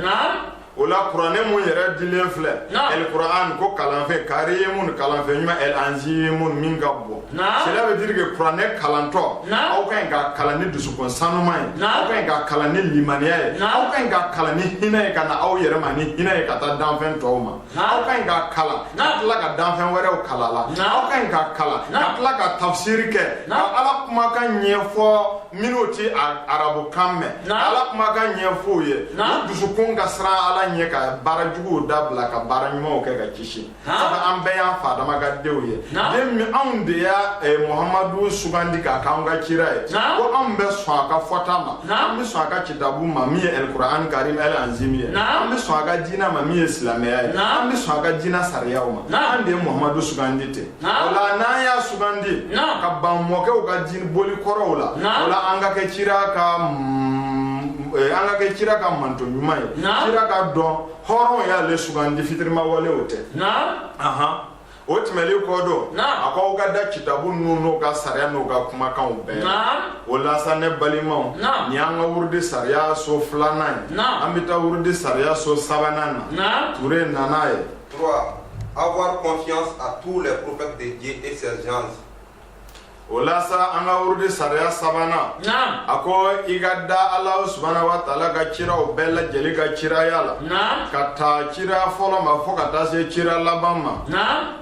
o la kuranɛ min yɛrɛ dilen filɛ el kuran ko kalanfɛn karimun kalanfɛn ɲuman el anzimun min ka bon cela veut dire que kuranɛ kalantɔ aw ka ɲi k'a kalan ni dusukun sanuma ye aw ka ɲi k'a kalan ni limaniya ye aw ka ɲi k'a kalan ni hinɛ ye ka na aw yɛrɛ ma ni hinɛ ye ka taa danfɛn tɔw ma aw ka ɲi k'a kalan ka tila ka danfɛn wɛrɛw kalan a la aw ka ɲi k'a kalan ka tila k'a tafsiri kɛ ka ala kumakan ɲɛfɔ minnu tɛ arabukan mɛn ala kumakan ɲɛfɔ u ye u dusukun ka siran ala ɲɛ ka baara juguw dabila ka baara ɲumanw kɛ ka kisi sabu an bɛɛ y'an fa Adama ka denw ye den min anw de y'a eh, muhamadu sugandi k'a k'an ka kira ye ko anw bɛ sɔn a ka fɔta ma an bɛ sɔn a ka kitabu ma min ye ɛlikuran karim ɛl anzimi ye an bɛ sɔn a ka diinɛ ma min ye silamɛya ye an bɛ sɔn a ka diinɛ sariyaw ma an de ye muhamadu sugandi ten o la n'an y'a sugandi ka ban mɔkɛw ka diinɛ boli kɔrɔw la o la an ka kɛ kira ka mm, eh, an ka kɛ kira ka mantɔn ɲuman ye kira k'a dɔn hɔrɔn y'ale sugandi fitirima walew tɛ o tɛmɛlen kɔ don a ko aw ka da kitabu ninnu n'o ka sariya n'o ka kumakanw bɛɛ la o la sa ne balimaw nin y'an ka wurudi sariya so filanan ye an bɛ taa wurudi sariya so sabanan na ture nana ye 3. Avoir confiance à tous les prophètes de Dieu et ses gens. o la sa an ka wurudi sariya sabanan a ko i ka da ala subahana wa taala ka ciraw bɛɛ lajɛli ka ciraya la ka taa cira fɔlɔ ma fo ka taa se cira laban ma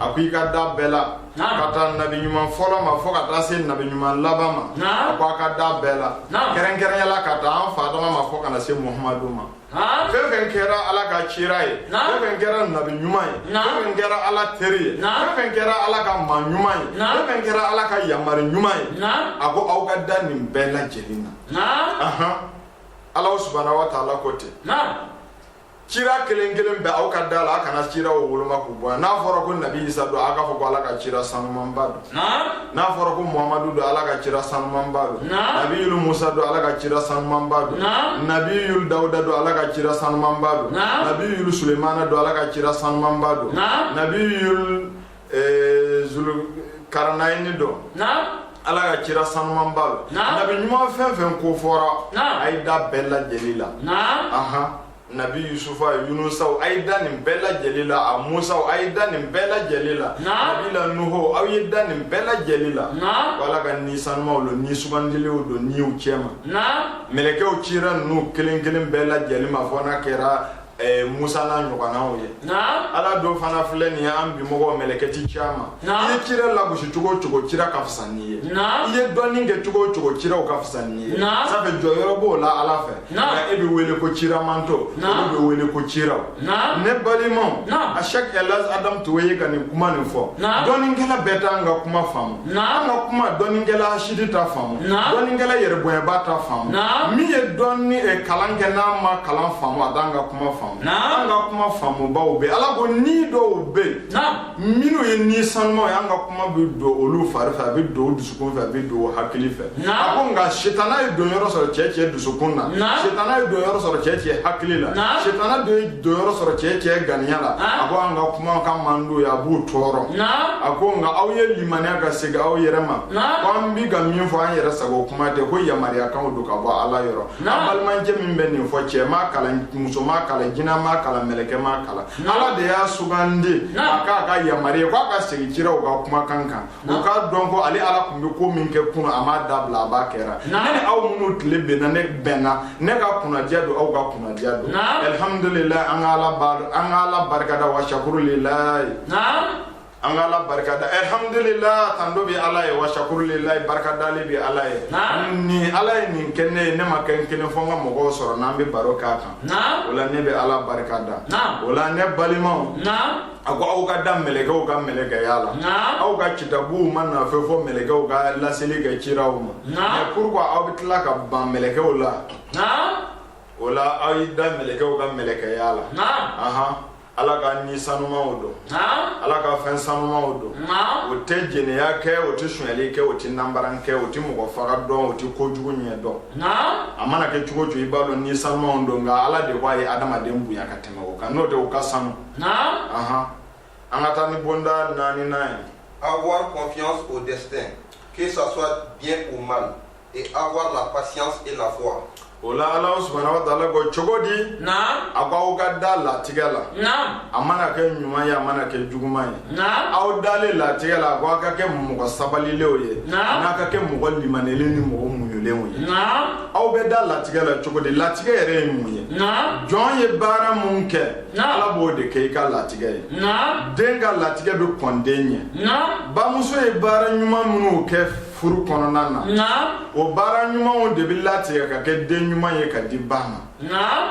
a ko i ka da bɛɛ la ka taa nabi ɲuman fɔlɔ ma fo ka taa se nabi ɲuman laban ma a ko a ka da bɛɛ la kɛrɛnkɛrɛnya la ka taa an fa adama ma fo ka na se muhamadu ma Naam. fɛn fɛn kɛra ala ka cira ye Naam. fɛn fɛn kɛra nabi ɲuman ye Naam. fɛn fɛn kɛra ala teri ye Naam. fɛn fɛn kɛra ala ka maa ɲuman ye Naam. fɛn fɛn kɛra ala ka yamari ɲuman ye Naam. a ko aw ka da nin bɛɛ lajɛlen na Naam. Ahan. ala subahana wa taala ko ten Naam. cira kelen kelen bɛɛ aw ka da la a kana ciraw woloma k'u bɔ yan n'a fɔra ko nabi isa don a k'a fɔ ko ala ka cira sanumanba don n'a fɔra ko muhamadu don ala ka cira sanumanba don nabiyul musa don ala ka cira sanumanba don nabiyul dawuda don ala ka cira sanumanba don nabiyul sulemana don ala ka cira sanumanba don nabiyul eh, zulu karanayini don ala ka cira sanumanba don nabi ɲuman fɛn fɛn ko fɔra a ye da bɛɛ lajɛli la nabi yusufa yunusaw a ye da nin bɛɛ lajɛli la a musaw a ye da nin bɛɛ lajɛli la nabi la nuho aw ye da nin bɛɛ lajɛli la ko ala ka ni sanumaw don ni sugandilenw don niw cɛma mɛlɛkɛw cira ninnu kelen kelen bɛɛ lajɛli ma fo n'a kɛra eh, musa n'a ɲɔgɔnnaw ye ala dɔ fana filɛ nin ye an bimɔgɔw mɛlɛkɛ ti ci an ma i ye kira lagosi cogo o cogo kira ka fisa n'i ye i ye dɔnni kɛ cogo o cogo kiraw ka fisa n'i ye sabu jɔyɔrɔ b'u la ala fɛ nka e bɛ wele ko cira mantɔn olu bɛ wele ko ciraw ne balimaw a sɛki ɛlɛz adamu tuwe ye ka nin kuma nin fɔ dɔnnikɛla bɛɛ t'an ka kuma faamu an ka kuma dɔnnikɛla hasidi t'a faamu dɔnnikɛla yɛrɛbonyaba t'a faamu min ye dɔnni eh, kalan kɛ n'a ma kalan faamu a t'an ka kuma faamu an ka kuma faamubaw bɛ ala ko ni dɔw bɛ yen Minnu ye ni sanumaw ye an ka kuma bɛ don olu fari fɛ a bɛ don dusukun fɛ a bɛ don hakili fɛ a ko nka sitanɛ ye don yɔrɔ sɔrɔ cɛ cɛ dusukun na sitanɛ ye don yɔrɔ sɔrɔ cɛ cɛ hakili la sitanɛ ye don yɔrɔ sɔrɔ cɛ cɛ ganiya la a ko an ka kuma man di a ye a b'o tɔɔrɔ a ko nka aw ye limaniya ka segin aw yɛrɛ ma ko an bɛ ka min fɔ an yɛrɛ sago kuma tɛ ko yamaruyakanw don ka bɔ ala yɔrɔ an balimacɛ min bɛ nin fɔ cɛ m'a kalan muso m'a kalan jinɛ m'a kalan mɛlɛkɛ m'a kalan ala de y'a sugandi a k'a ka yamari ye k'a ka segin kiraw ka kumakan kan u k'a dɔn ko ale ala tun bɛ ko min kɛ kunun a m'a dabila a b'a kɛra ne ni aw minnu tile bɛnna ne bɛnna ne ka kunnadiya don aw ka kunnadiya don alihamudulila an ka ala an ka ala barikada wa sakuru lilahi an ka ala barika da alhamdulillah tando bi ala ye wa shakurulillah barika dali bi ala ye ni ala ye nin kɛ ne ye ne ma kɛ n kelen fo n ka mɔgɔw sɔrɔ n'an bɛ baro k'a kan o la ne bɛ ala barika da o la ne balimaw a ko aw ka da mɛlɛkɛw ka mɛlɛkɛya la aw ka kitabuw ma na fewu fo mɛlɛkɛw ka laseli kɛ ciraw ma mais pourquoi aw bɛ tila ka ban mɛlɛkɛw la o la aw y'i da mɛlɛkɛw ka mɛlɛkɛya la ala ka ni sanumaw don ala ka fɛn sanumaw don o tɛ jɛnɛya kɛ o tɛ sonyali kɛ o tɛ nanbara kɛ o tɛ mɔgɔ faga dɔn o tɛ kojugu ɲɛ dɔn a mana kɛ cogo cogo i b'a dɔn ni sanumaw don nka ala de ko a ye adamaden bonya ka tɛmɛ o kan n'o tɛ o ka sanu an ka taa ni bonda naaninan ye avoir confiance au destin que ça soit bien ou mal et avoir la patience et la foi. o la ala subahana wa taala ko cogo di. naam. a ko aw ka da latigɛ la. naam. a mana kɛ ɲuman ye a mana kɛ juguman ye. naam. aw dalen latigɛ la a ko aw ka kɛ mɔgɔ sabalilenw ye. naam. n'a ka kɛ mɔgɔ limanenlen ni mɔgɔ muɲulenw ye. naam. aw bɛ da latigɛ la cogo di latigɛ yɛrɛ ye mun ye. naam. jɔn ye baara min kɛ. naam. ala b'o de kɛ i ka latigɛ ye. naam. den ka latigɛ bɛ kɔn den ɲɛ. naam. bamuso ye baara ɲuman minnu kɛ. furu kɔnɔna na naam o baara ɲumanw de bɛ latigɛ ka kɛ den ɲuman ye ka di ba ma naam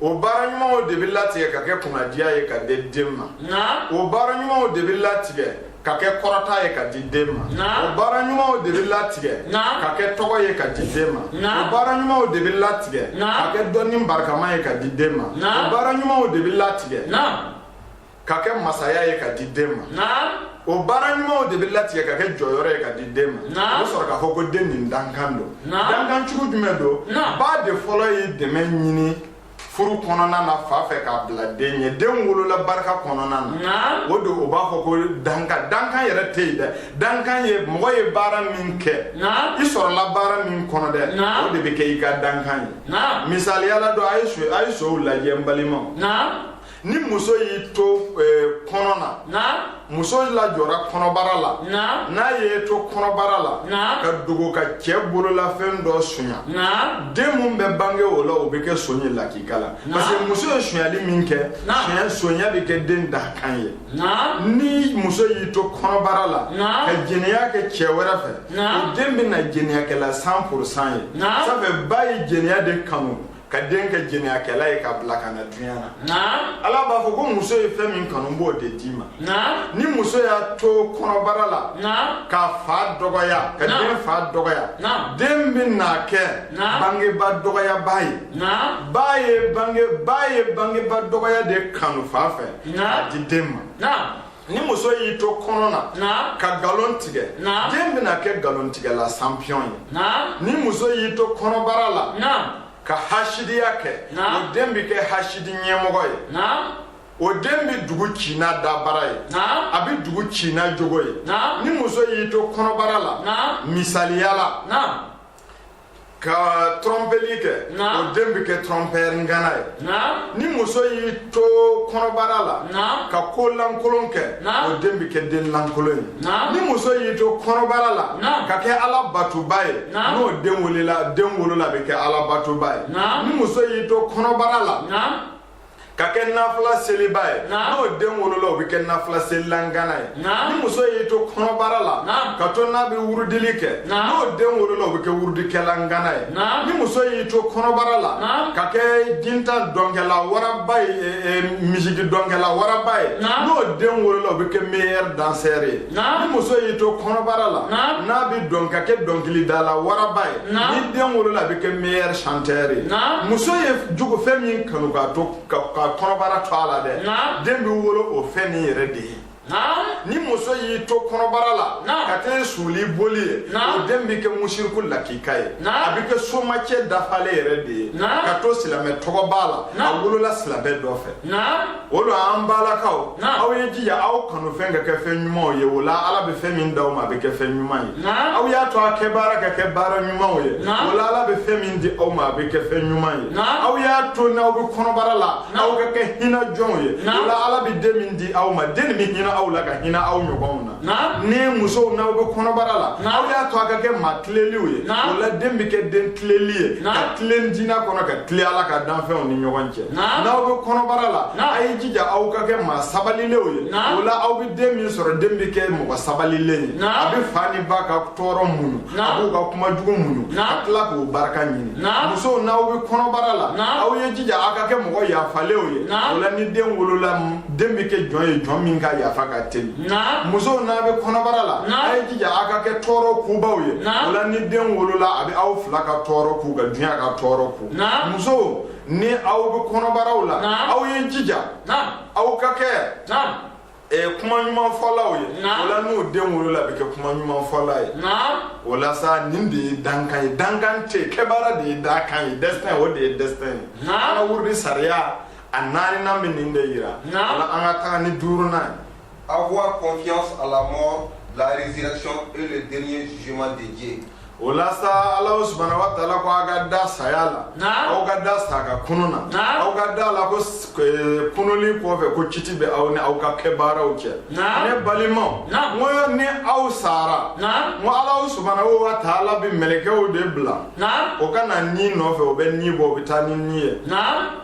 o baara ɲumanw de bɛ latigɛ ka kɛ kunnadiya ye ka di den ma naam o baara ɲumanw de bɛ latigɛ ka kɛ kɔrɔta ye ka di den ma Naam. o baara ɲumanw de bɛ latigɛ Naam. ka kɛ tɔgɔ ye ka di den ma Naam. o baara ɲumanw de bɛ latigɛ Naam. ka kɛ dɔnni barikama ye ka di den ma Naam. o baara ɲumanw de bɛ latigɛ naam ka kɛ masaya ye ka di den ma o baara ɲumanw de bɛ latigɛ ka kɛ jɔyɔrɔ ye ka di den ma o bɛ sɔrɔ k'a fɔ ko den nin dankan don dankan cogo jumɛn don ba de fɔlɔ ye dɛmɛ ɲini furu kɔnɔna na fa fɛ k'a bila den ye den wolola barika kɔnɔna na o don o b'a fɔ ko danka dankan yɛrɛ tɛ yen dɛ dankan ye mɔgɔ ye baara min kɛ i sɔrɔla baara min kɔnɔ dɛ o de bɛ kɛ i ka dankan ye misaliya la dɔ a ye sonw lajɛ n balimaw ni muso y'i to eh, kɔnɔna muso lajɔra kɔnɔbara la n'a y'i to kɔnɔbara la ka dogo ka cɛɛ bololafɛn dɔ sonya den min bɛ bange o la o bɛ kɛ son ye lakika la parce que muso ye sonyali min kɛ sonya bɛ kɛ den dakan ye ni muso y'i to kɔnɔbara la ka jɛnɛya kɛ cɛɛ wɛrɛ fɛ o den bɛ na jɛnɛyakɛla cent pour cent ye ça fait ba ye jɛnɛya de kanu ka den kɛ jɛnɛyakɛla ye k'a bila ka na dunya na ala b'a fɔ ko muso ye fɛn min kanu b'o de d'i ma ni muso y'a to kɔnɔbara la k'a fa dɔgɔya ka den fa dɔgɔya den bɛna kɛ bangeba dɔgɔyaba ye ba ye bange ba ye bangeba dɔgɔya de kanu fa fɛ k'a di den ma ni muso y'i to kɔnɔ na ka nkalon tigɛ den bɛna kɛ nkalontigɛla sanpiyɔn ye ni muso y'i to kɔnɔbara la ka hasidiya kɛ o den bɛ kɛ hasidi ɲɛmɔgɔ ye o den bɛ dugu ci n'a dabara ye a bɛ dugu ci n'a jogo ye ni muso y'i to kɔnɔbara la misaliya la ka trɔnpeli kɛ o den bɛ kɛ trompeur ngana ye ni muso y'i to kɔnɔbara la ka ko lankolon kɛ o den bɛ kɛ den lankolon ye ni muso y'i to kɔnɔbara la ka kɛ ala batuba ye n'o den wolola a bɛ kɛ ala batuba ye ni muso y'i to kɔnɔbara la ka kɛ nafila seliba ye n'o den wolola o bɛ kɛ nafila selila ngana ye ni muso y'i to kɔnɔbara la ka to n'a bɛ wurudili kɛ n'o den wolola o bɛ kɛ wurudikɛla ngana ye ni muso y'i to kɔnɔbara la ka kɛ jintan dɔnkɛla waraba ye e, e, misiki dɔnkɛla waraba ye n'o den wolola o bɛ kɛ meilleur danseur ye ni muso y'i to kɔnɔbara la n'a bɛ dɔn ka kɛ dɔnkilidala waraba ye ni den wolola a bɛ kɛ meilleur chanteur ye muso ye jugu fɛn min kanu ka kɔnɔbara to a la dɛ den bɛ wolo o fɛn nin yɛrɛ de ye ni muso y'i to kɔnɔbara la ka kɛ suuli boli ye o den bɛ kɛ musiriku lakika ye a bɛ kɛ somacɛ dafalen yɛrɛ de ye k'a to silamɛ tɔgɔ b'a la a wolola silamɛ dɔ fɛ o la an balakaw aw ye jija aw kanu fɛn ka kɛ fɛn ɲumanw ye o la ala bɛ fɛn min d'aw ma a bɛ kɛ fɛn ɲuman ye aw y'a to a kɛbaara ka kɛ baara ɲumanw ye o la ala bɛ fɛn min di aw ma a bɛ kɛ fɛn ɲuman ye aw y'a to n'aw bɛ kɔnɔbara la aw ka kɛ hinɛ jɔnw ye o la ala bɛ den min di aw ma den nin bɛ hinɛ aw la ka hinɛ aw ɲɔgɔn na ni musow n'aw bɛ kɔnɔbara la aw y'a to a ka kɛ maa tileliw ye o la den bɛ kɛ den tileli ye ka tilen diinɛ kɔnɔ ka tilen ala ka danfɛnw ni ɲɔgɔn cɛ n'aw bɛ kɔnɔbara la a ye jija aw ka kɛ maa sabalilenw ye o la aw bɛ den min sɔrɔ den bɛ kɛ mɔgɔ sabalilen ye a bɛ fa ni ba ka tɔɔrɔ muɲu a b'u ka kuma jugu muɲu ka tila k'u barika ɲini musow n'aw bɛ kɔnɔbara la aw ye jija aw ka kɛ mɔgɔ yafalenw ye o la ni den wolola den bɛ kɛ jɔn ye jɔn min ka yafa ka teli musow n'a bɛ kɔnɔbara la a ye jija a ka kɛ tɔɔrɔ kubaw ye o la ni den wolola a bɛ aw fila ka tɔɔrɔ ku ka dunya ka tɔɔrɔ ku musow ni aw bɛ kɔnɔbaraw la aw ye jija aw ka kɛ ɛ kuma ɲuman fɔlaw ye o la ni den wolola a bɛ kɛ kuma ɲuman fɔla ye o la sa nin de ye dakan ye dakan tɛ kɛbaara de ye dakan ye destin o de ye destin ye an ka wurudi sariya A naaninan bɛ nin de jira. Naamu. Ola an ka taga ni duurunan ye. Avoir confiance à la mort, la résurrection et le dernier jugement de Dieu O la sa, Alahu subahana watala ko aw ka da saya la. Naamu. Aw ka da sa ka kunun na. Naamu. Aw ka da a la ko eh, kununli kɔfɛ ko kiti bɛ aw ni aw ka kɛbaaraw cɛ. Naamu. Ne balimaw. Naamu. N ko ni aw sara. Naamu. N ko Alahu subahana watala bɛ mɛlɛkɛw de bila. Naamu. O ka na ni nɔfɛ, o bɛ ni bɔ, o bɛ taa ni ni ye. Naamu.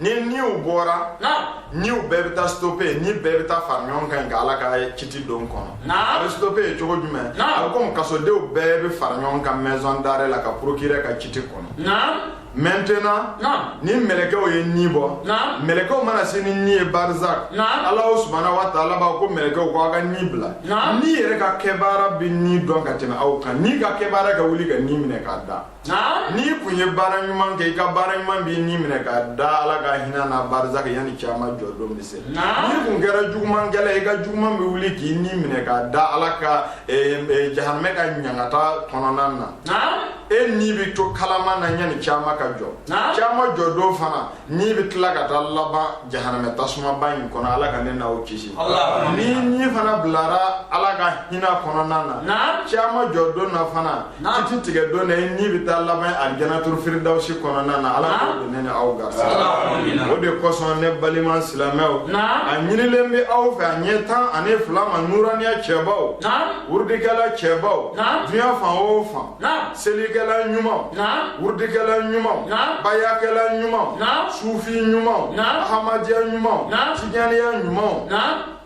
ni niw bɔra niw bɛɛ bɛ taa stope ni bɛɛ bɛ taa fara ɲɔgɔn kan ka ala ka kiti don kɔnɔ a bɛ stope ye cogo jumɛn a bɛ komi kasodenw bɛɛ bɛ fara ɲɔgɔn kan maison d'arrêt la ka procureur ka kiti kɔnɔ maintenant ni mɛlɛkɛw ye ni bɔ mɛlɛkɛw mana se ni ni ye barizak alahu subahana wa taala b'a ko mɛlɛkɛw ko aw ka ni bila ni yɛrɛ ka kɛbaara bɛ ni dɔn ka tɛmɛ aw kan ni ka kɛbaara ka wuli ka ni minɛ k'a da n'i kun ye baara ɲuman kɛ i ka baara ɲuman b'i ni minɛ k'a da ala ka hinɛ na barizak yanni kiyama jɔ don bɛ se n'i kun kɛra jugumankɛla ye i ka juguman bɛ wuli k'i ni minɛ k'a da ala ka eh, eh, jahanamɛ ka ɲangata kɔnɔna na e ni bɛ to kalaman na yanni kiyama ka jɔ kiyama jɔ don fana Ni bɛ tila ka taa laban jahanamɛ tasumaba in kɔnɔ Ala ka ne n'aw kisi, Allahouma, n'i ni fana bilara Ala ka hinɛ kɔnɔna na, naamu, kiyama jɔ don na fana, naamu, kiti tigɛ don na i ni bɛ taa laban alijanatul firidawusi kɔnɔna na Ala ka o don ne ni aw garisigɛ, Allahouma amina, o de kosɔn ne balima silamɛw, naamu, a ɲinilen bɛ aw fɛ a ɲɛ tan ani fila ma nuraniya cɛbaw, naamu, wurudikɛla cɛbaw, naamu, dunya fan o fan selikɛla ɲuman wurudikɛla ɲuman bayakɛla ɲuman sufi ɲuman ahamadiya ɲuman tijaniya ɲuman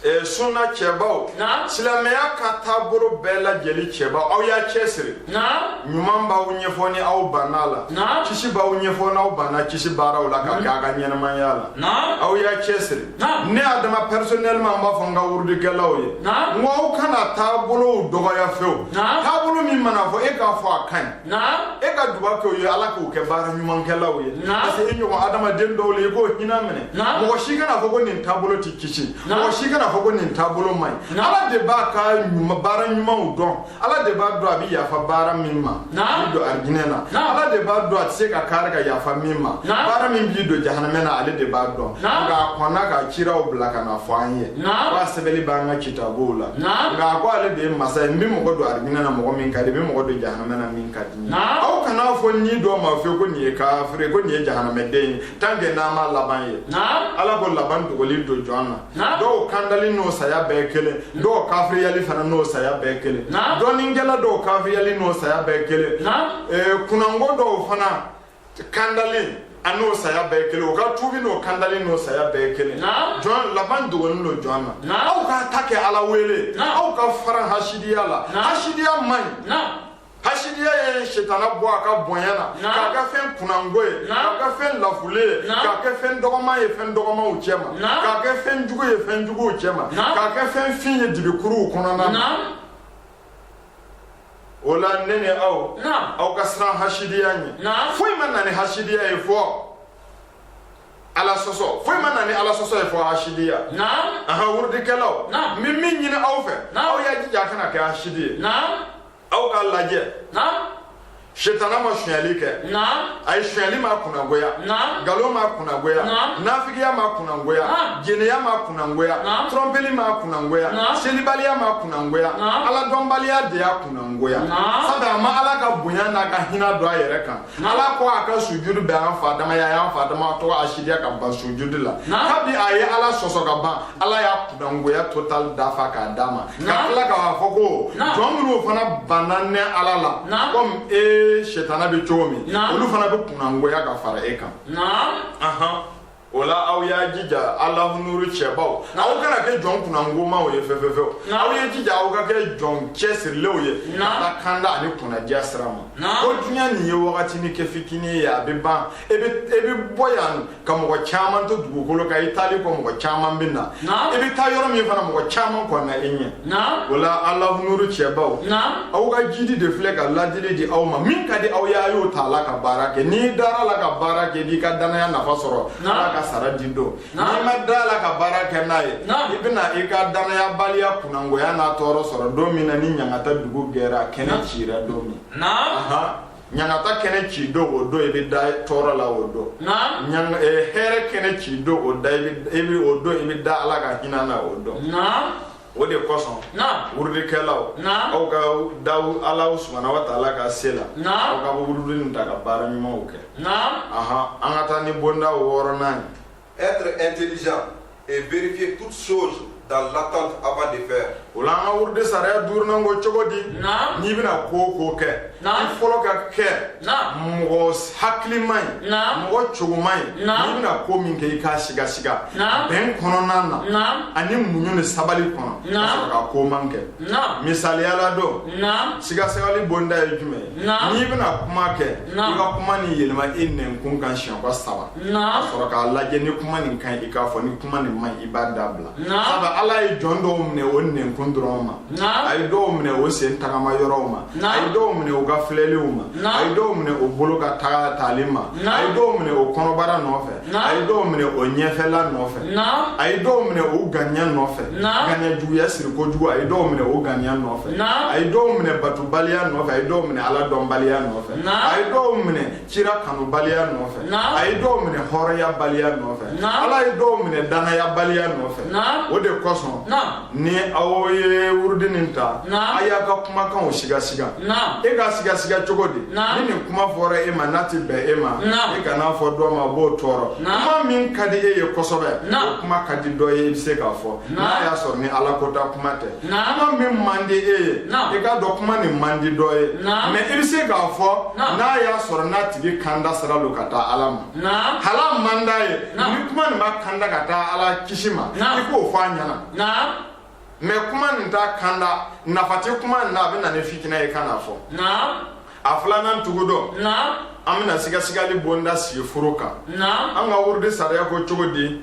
Eh, sunna cɛbaw silamɛya ka taabolo bɛɛ lajɛlen cɛbaw aw y'aw cɛ siri ɲuman b'aw ɲɛ fo ni aw banna a la kisi b'aw ɲɛ fo n'aw banna kisi baaraw la k'a kɛ aw ka ɲɛnamaya la aw y'aw cɛ siri ne Adama personnellement n b'a fɔ n ka wurudikɛlaw ye ko aw kana taabolow dɔgɔya fewu taabolo min mana fɔ e k'a fɔ a ka ɲi e ka duba kɛ u ye ala k'u kɛ baara ɲumankɛlaw ye parce que e ɲɔgɔn adamaden dɔw ye i k'u hinɛ minɛ mɔgɔ si kana fɔ ko nin taabolo tɛ kisi mɔgɔ si kana fɔ ko nin taabolo man ɲi ala de b'a ka baara ɲumanw dɔn ala de b'a dɔn a bɛ yafa baara min ma a b'i don arijinɛ na ala de b'a dɔn a tɛ se ka kari ka yafa min ma baara min b'i don jahanamɛ na ale de b'a dɔn nka a kɔnna ka ciraw bila ka n'a fɔ an ye wa a sɛbɛnnen b'an ka kitabuw la nka a ko ale de ye masa ye n bɛ mɔgɔ don arijinɛ na mɔgɔ min ka di n bɛ mɔgɔ don jahanamɛ na min ka di n ye aw kana fɔ nin dɔ ma fewu ko nin ye kafiri ko nin ye jahanamɛden ye tant que n'an ma laban ye ala ko laban dogolen don jɔn na dɔw kandali n'o saya bɛɛ kelen dɔw kafiriyali fana n'o saya bɛɛ kelen dɔnnikɛla dɔw kafiriyali n'o saya bɛɛ kelen eh, kunnango dɔw fana kandali an'o saya bɛɛ kelen u ka tuubi n'o kandali n'o saya bɛɛ kelen jɔn laban dogonin don jɔn na aw k'a ta kɛ ala wele aw ka faran hasidiya la hasidiya man ɲi hasidiya ye sitana bɔ a ka bonya na k'a kɛ fɛn kunnango ye k'a kɛ fɛn lafulen ye k'a kɛ fɛn dɔgɔman ye fɛn dɔgɔmanw cɛma k'a kɛ fɛn jugu ye fɛn juguw cɛma k'a kɛ fɛn fin ye dibikuruw kɔnɔna na o la ne ni aw aw ka siran hasidiya ɲɛ foyi ma na ni hasidiya ye fɔ ala sɔsɔ foyi ma na ni ala sɔsɔ ye fɔ hasidiya aha wurudikɛlaw n bɛ min ɲini aw fɛ aw y'a jija a kana kɛ hasidi ye aw k'a lajɛ sitana ma sonyali kɛ a ye sonyali m'a kunnagoya nkalon m'a kunnagoya nafigiya m'a kunnagoya jɛnɛya m'a kunnagoya tɔrɔnpeli m'a kunnagoya selibaliya m'a kunnagoya aladɔnbaliya de y'a kunnagoya sabu a ma ala ka bonya n'a ka hinɛ dɔn a yɛrɛ kan n'ala ko a ka sujudu kɛ an fa adama ye a y'an fa adama tɔgɔ hasidiya ka ban sujudu la kabi a ye ala sɔsɔ ka ban ala y'a kunnangoya total dafa k'a d'a ma ka tila k'a fɔ ko jɔn minnu fana banna ne ala la komi e setana bɛ cogo min olu fana bɛ kunnangoya ka fara e kan o la aw y'a jija alahunuuru cɛbaw aw kana kɛ jɔn kunnangomaw ye fɛfɛfɛw aw ye jija aw ka kɛ jɔn cɛsirilenw ye ka taa kanda ani kunnadiya sira ma ko diɲɛ nin ye wagati ni kɛ fitinin ye a bɛ ban e bɛ e bɛ bɔ yan ka mɔgɔ caman to dugukolo kan i taali kɔ mɔgɔ caman bɛ na i bɛ taa yɔrɔ min fana mɔgɔ caman kɔnna i ɲɛ o la alahunuuru cɛbaw aw ka jidi de filɛ ka ladili di aw ma min ka di aw y'a y'o ta la ka baara kɛ n'i dar'a la ka baara kɛ n'i ka dannaya nafa sɔrɔ ala ka sara di don n'i ma d'a la ka baara kɛ n'a ye i bɛna i ka dannayabaliya kunnangoya n'a tɔɔrɔ sɔrɔ don min na ni ɲangata dugu gɛra a kɛnɛ cira don min ɲangata kɛnɛ ci don o don i bɛ da tɔɔrɔ la o don eh, hɛrɛ kɛnɛ ci don o da i bɛ o don i bɛ da ala ka hinɛ na o don o de kosɔn wurudikɛlaw aw ka da ala subahana wa taala ka se la aw ka wurudi nin ta ka baara ɲumanw kɛ an ka taa ni bonda wɔɔrɔnan ye Être intelligent et vérifier toutes choses dans l'attente avant de faire. O la an ka wurudi sariya duurunan ko cogo di. Naam. N'i bɛna ko o ko kɛ. Naam. I fɔlɔ ka kɛ. Naam. Mɔgɔ hakilima ye. Naam. Mɔgɔ cogoma ye. Naam. N'i bɛna ko min kɛ i k'a sigasiga. Naam. Bɛn kɔnɔna na. Naam. Ani muɲu ni sabali kɔnɔ. Naam. Ka sɔrɔ ka ko man kɛ. Naam. Misaliya la don. Naam. Sigasigali bonda ye jumɛn ye. Naam. N'i bɛna kuma kɛ. Naam. I ka kuma nin yɛlɛma i nɛnkun kan siɲɛ ko saba. a sɔrɔ k'a lajɛ ni kuma nin ka ɲi i k'a fɔ ni kuma nin man ɲi i b'a dabila sabu ala ye jɔn dɔw minɛ o nɛnkun dɔrɔn ma a ye dɔw minɛ o sen tagama yɔrɔw ma a ye dɔw minɛ o ka filɛliw ma a ye dɔw minɛ o bolo ka taataali ma a ye dɔw minɛ o kɔnɔbara nɔfɛ a ye dɔw minɛ o ɲɛfɛla nɔfɛ a ye dɔw minɛ o ganiya nɔfɛ ganiya juguya siri kojugu a ye dɔw minɛ o ganiya nɔfɛ a ye dɔw minɛ batubaliya nɔfɛ a ye dɔw minɛ ala dɔnbaliya nɔfɛ a ye dɔw minɛ kira kanubaliya nɔfɛ a ye dɔw minɛ hɔrɔnyabaliya nɔfɛ ala ye dɔw minɛ danayabaliya nɔfɛ o de kosɔn ni aw ye wurudi nin ta a y'a ka kumakanw sigasiga i k'a sigasiga cogo di ni nin kuma fɔra e ma n'a tɛ bɛn e ma i kan'a fɔ dɔ ma b'o tɔɔrɔ kuma min ka di e ye kosɛbɛ o kuma ka di dɔ ye i bɛ se k'a fɔ n'a y'a sɔrɔ ni ala kota kuma tɛ kuma min man di e ye i k'a dɔn kuma nin man di dɔ ye mais i bɛ se k'a fɔ n'a y'a sɔrɔ n'a tigi kanda sira don ka taa ala ma hal'a man d'a ye ni kuma nin b'a kanda ka taa ala kisi ma i k'o fɔ a ɲɛ na mais kuma nin t'a kanda nafa tɛ kuma nin na a bɛ na ni fitinɛ ye kan'a fɔ a filanan tugu dɔ an bɛna sigasigali bonda sigi furu kan an ka wurudi sariya ko cogo di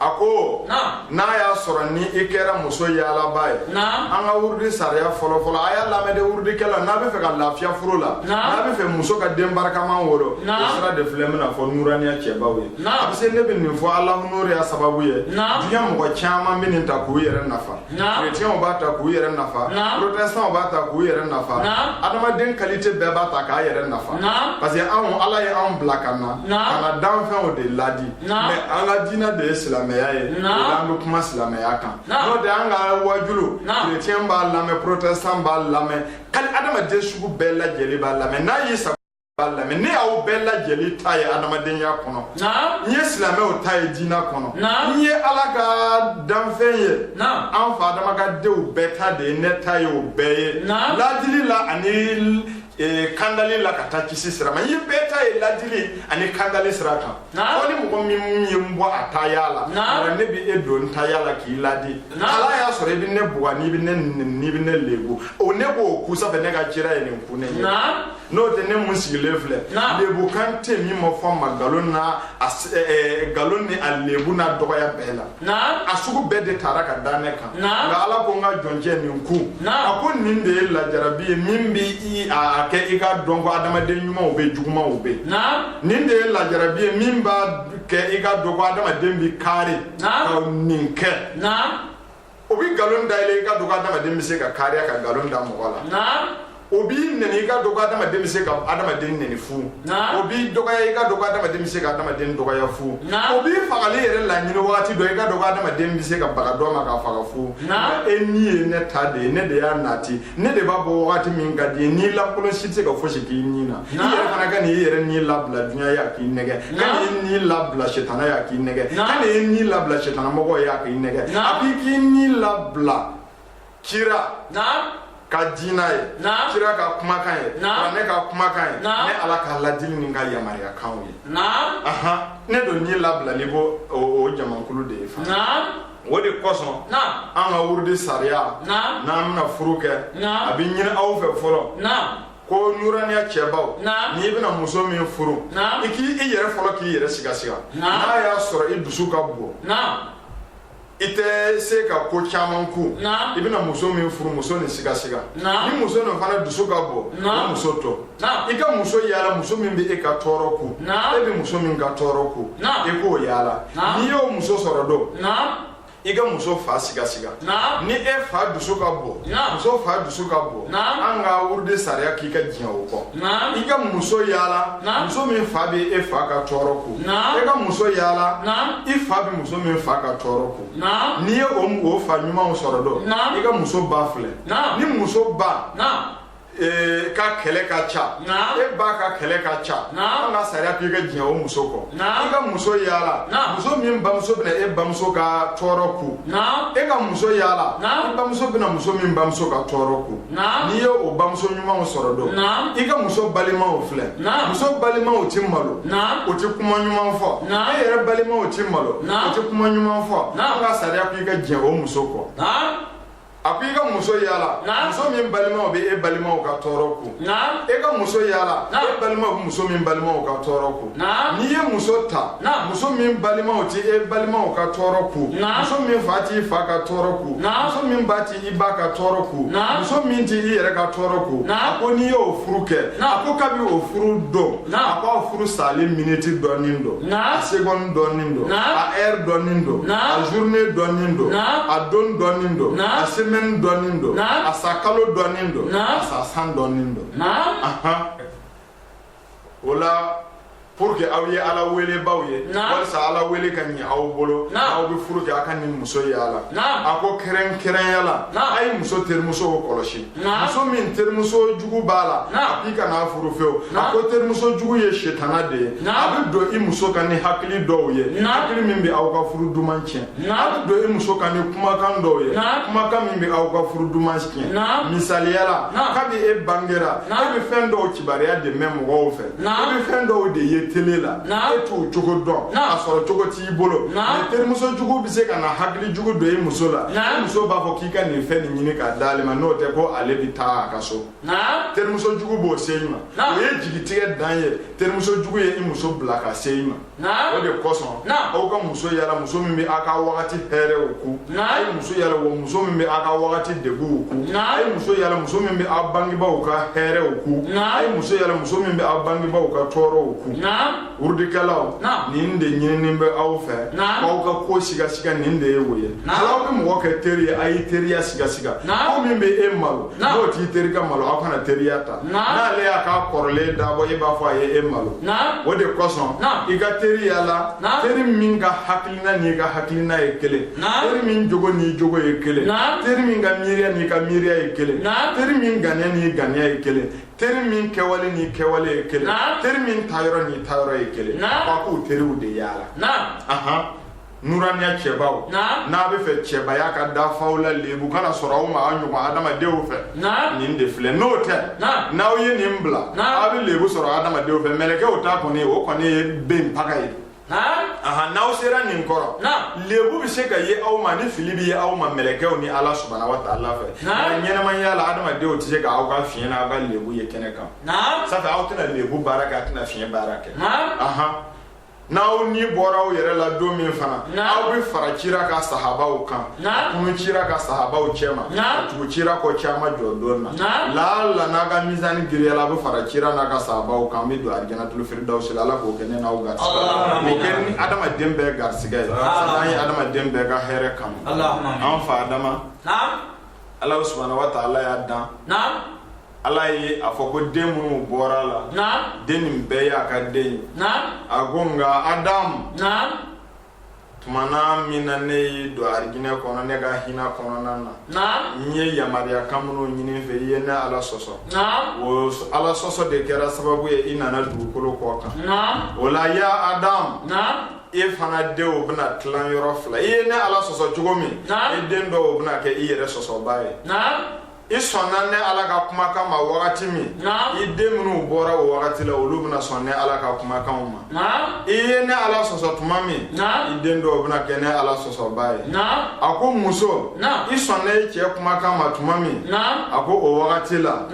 a ko n'a y'a sɔrɔ ni i kɛra muso yaalaba ye an ka wurudi sariya fɔlɔfɔlɔ a y'a lamɛn dɛ wurudikɛla n'a bɛ fɛ ka lafiya furu la n'a bɛ fɛ muso ka den barikaman wolo o sira de filɛ bɛna fɔ nuraniya cɛbaw ye a bɛ se ne bɛ nin fɔ alahu nuriya sababu ye duniɲa mɔgɔ caman bɛ nin ta k'u yɛrɛ nafa chrétiens b'a ta k'u yɛrɛ nafa protestants b'a ta k'u yɛrɛ nafa adamaden qualité bɛɛ b'a ta k'a yɛrɛ nafa parce que anw ala ye anw bila ka na ka na danfɛnw de ladi mais an ka diina de ye silamɛya ye o la an bɛ kuma silamɛya kan n'o tɛ an ka waajulu chrétien b'a lamɛn protestant b'a lamɛn kali adamaden sugu bɛɛ lajɛlen b'a lamɛn n'a y'i sago b'a lamɛn ne y'aw bɛɛ lajɛlen ta ye adamadenya kɔnɔ n ye silamɛw ta ye diina kɔnɔ n ye ala ka danfɛn ye an fa adama ka denw bɛɛ ta de ye ne ta ye o bɛɛ ye ladili la ani eh, kandali la ka taa kisi sira ma n ye bɛɛ ta ye ladili ani kandali sira kan fo ni mɔgɔ min ye n bɔ a taya la nka ne bɛ e don n taya la k'i ladi hal'a y'a sɔrɔ i bɛ ne bugɔ n'i bɛ ne n'i bɛ ne lebu o ne b'o kun sanfɛ ne ka kira ye nin kun ne ye n'o tɛ ne min sigilen filɛ lebukan tɛ min ma fɔ n ma nkalon na nkalon ni a lebu n'a dɔgɔya bɛɛ la a sugu bɛɛ de taara ka da ne kan nka ala ko n ka jɔncɛ nin kun a ko nin de ye lajarabi ye min bɛ a kɛ i k'a dɔn ko adamaden ɲumanw bɛ jugumanw bɛ nin de ye lajarabi ye min b'a kɛ i k'a dɔn ko adamaden bɛ kari ka nin kɛ o bɛ nkalon da i la i k'a dɔn ko adamaden bɛ se ka kariya ka nkalon da mɔgɔ la o b'i neni i k'a dɔn ko adamaden bɛ se ka adamaden neni fu o b'i dɔgɔya i k'a dɔn ko adamaden bɛ se ka adamaden dɔgɔya fu o b'i fagali yɛrɛ laɲini waati dɔ i k'a dɔn ko adamaden bɛ se ka baga dɔ ma k'a faga fu e ni ye ne ta de ye ne de y'a nati ne de b'a bɔ wagati min ka di n ye ni lankolon si tɛ se ka fosi k'i ni na i yɛrɛ fana kana i yɛrɛ ni labila dunya ye a k'i nɛgɛn kana i ni labila setana ye a k'i nɛgɛn kana i ni labila setana mɔgɔ ye a k'i nɛgɛn a b'i k'i ni labila kira ka diina ye kira ka kumakan ye kuranɛ ka kumakan ye ne ala ka ladili ni n ka yamaruyakanw ye ne don ni labilalen b'o jamakulu de ye fana o de kosɔn an ka wurudi sariya n'an bɛna furu kɛ a bɛ ɲini aw fɛ fɔlɔ ko nuraniya cɛbaw n'i bɛna muso min furu i k'i i yɛrɛ fɔlɔ k'i yɛrɛ sigasiga n'a y'a sɔrɔ i dusu ka bon i tɛ se ka ko caman ku i bɛna muso min furu muso nin sigasiga ni muso nin fana dusu ka bon o muso to i ka muso yala muso min bɛ e ka tɔɔrɔ ku e bɛ muso min ka tɔɔrɔ ku e k'o yala n'i y'o muso sɔrɔ don i ka muso fa sigasiga ni e fa dusu ka bon muso fa dusu ka bon an ka wurudi sariya k'i ka diɲɛ o kɔ i ka muso yala muso min fa bɛ e fa ka tɔɔrɔ ku e ka muso yala i fa bɛ muso min fa ka tɔɔrɔ ku n'i ye o fa ɲumanw sɔrɔ don i ka muso ba filɛ ni muso ba ka kɛlɛ ka ca e ba ka kɛlɛ ka ca an ka sariya k'i ka diɲɛ o muso kɔ i ka muso yala muso min bamuso bɛna e bamuso ka tɔɔrɔ ku e ka muso yala i bamuso bɛna muso min bamuso ka tɔɔrɔ ku n'i ye o bamuso ɲumanw sɔrɔ don i ka muso balimaw filɛ muso balimaw tɛ malo o tɛ kuma ɲuman fɔ e yɛrɛ balimaw tɛ malo o tɛ kuma ɲuman fɔ an ka sariya k'i ka diɲɛ o muso kɔ a ko i ka muso yala muso min balimaw bɛ e balimaw ka tɔɔrɔ ku e ka muso yala e balimaw bɛ muso min balimaw ka tɔɔrɔ ku n'i ye muso ta muso min balimaw tɛ e balimaw ka tɔɔrɔ ku muso min fa t'i fa ka tɔɔrɔ ku muso min ba tɛ i ba ka tɔɔrɔ ku muso min tɛ i yɛrɛ ka tɔɔrɔ ku a ko n'i y'o furu kɛ a ko kabi o furu don a k'aw furu sali miniti dɔnnen don a seconde dɔnnen don a heure dɔnnen don a journée dɔnnen don a don dɔnnen don a semaine dɔnnen don a sa kalo dɔnnen don a sa san dɔnnen don o la pour que aw ye ala welebaw ye walisa ala wele ka ɲɛ aw bolo aw bɛ furu kɛ a ka nin muso yala a ko kɛrɛnkɛrɛnya la a ye muso terimusow kɔlɔsi muso min terimuso jugu b'a la a k'i kana furu fewu a ko terimuso jugu ye setana de ye a bɛ don i muso kan ni hakili dɔw ye hakili min bɛ aw ka furu duman tiɲɛ a bɛ don i muso kan ni kumakan dɔw ye kumakan min bɛ aw ka furu duman tiɲɛ misaliya la kabi e bangera e bɛ fɛn dɔw kibaruya de mɛn mɔgɔw fɛ e bɛ fɛn dɔw de ye tele la e t'o cogo dɔn a sɔrɔ cogo tɛ i bolo mɛ terimuso jugu bɛ se ka na hakili jugu don i muso la i muso b'a fɔ k'i ka nin fɛn nin ɲini k'a d'ale ma n'o tɛ ko ale bɛ taa a ka so terimuso jugu b'o se i ma o ye jigitigɛ dan ye terimuso jugu ye i muso bila ka se i ma o de kosɔn aw ka muso yala muso min bɛ aw ka wagati hɛrɛw ku a ye muso yala wa muso min bɛ aw ka wagati degunw ku a ye muso yala muso min bɛ aw bangebaaw ka hɛrɛw ku a ye muso yala muso min bɛ aw bangebaaw ka tɔɔrɔw ku wurudikɛlaw nin de ɲininin bɛ aw fɛ k'aw ka ko sigasiga nin de ye o ye hali aw bɛ mɔgɔ kɛ teri ye a ye teriya sigasiga ko min bɛ e malo n'o t'i terikɛ malo aw kana teriya ta n'ale y'a ka kɔrɔlen dabɔ e b'a fɔ a ye e malo o de kosɔn i ka teri yala teri min ka hakilina n'i ka hakilina ye kelen teri min jogo n'i jogo ye kelen teri min ka miiriya n'i ka miiriya ye kelen teri min ganiya n'i ganiya ye kelen teri min kɛwale n'i kɛwale ye kelen teri min tayɔrɔ n'i tayɔrɔ ye kelen aw k'o teriw de yaala ahan nuraniya cɛbaw n'aw b'a fɛ cɛbaya ka dafa aw la lebu kana sɔrɔ aw ma aw ɲɔgɔn adamadenw fɛ nin de filɛ n'o tɛ n'aw ye nin bila aw bɛ lebu sɔrɔ adamadenw fɛ mɛlɛkɛw ta kɔni o kɔni ye ben paga ye n'aw sera nin kɔrɔ lebu bɛ se ka ye aw ma ni fili bɛ ye aw ma mɛlɛkɛw ni ala subahana wa taala fɛ nka ɲɛnamaya la adamadenw tɛ se ka aw ka fiɲɛ n'aw ka lebu ye kɛnɛ kan sabu aw tɛna lebu baara kɛ a tɛna fiɲɛ baara kɛ n'aw ni bɔra aw yɛrɛ la don min fana aw bɛ fara cira ka sahabaw kan kunun cira ka sahabaw cɛma tugu cira kɔ jama jɔ don na laala n'aw ka misani giriyala a bɛ fara cira n'a ka sahabaw kan bɛ don alijanatul firidawusi la ala k'o kɛ ne n'aw garisigɛ o kɛ ni adamaden bɛɛ garisigɛ ye sabu an ye adamaden bɛɛ ka hɛrɛ kanu an fa adama ala subahana wa taala y'a dan ala ye a fɔ ko den minnu bɔra a la den nin bɛɛ y'a ka den ye a ko nka adamu Tuma min na ne y'i don alijinɛ kɔnɔ ne ka hinɛ kɔnɔna na n ye yamaruyakan minnu ɲini i fɛ i ye ne ala sɔsɔ o ala sɔsɔ de kɛra sababu ye i nana dugukolo kɔ kan o la ya adamu e fana denw bɛna tila yɔrɔ fila i ye ne ala sɔsɔ cogo min e den dɔw bɛna kɛ i yɛrɛ sɔsɔba ye i sɔnna ne ala ka kumakan ma wagati min i den minnu bɔra o wagati la olu bɛna sɔn ne ala ka kumakanw ma i ye ne ala sɔsɔ tuma min i den dɔw bɛna kɛ ne ala sɔsɔba ye a ko muso i sɔnna i cɛ kumakan ma tuma min a ko o wagati la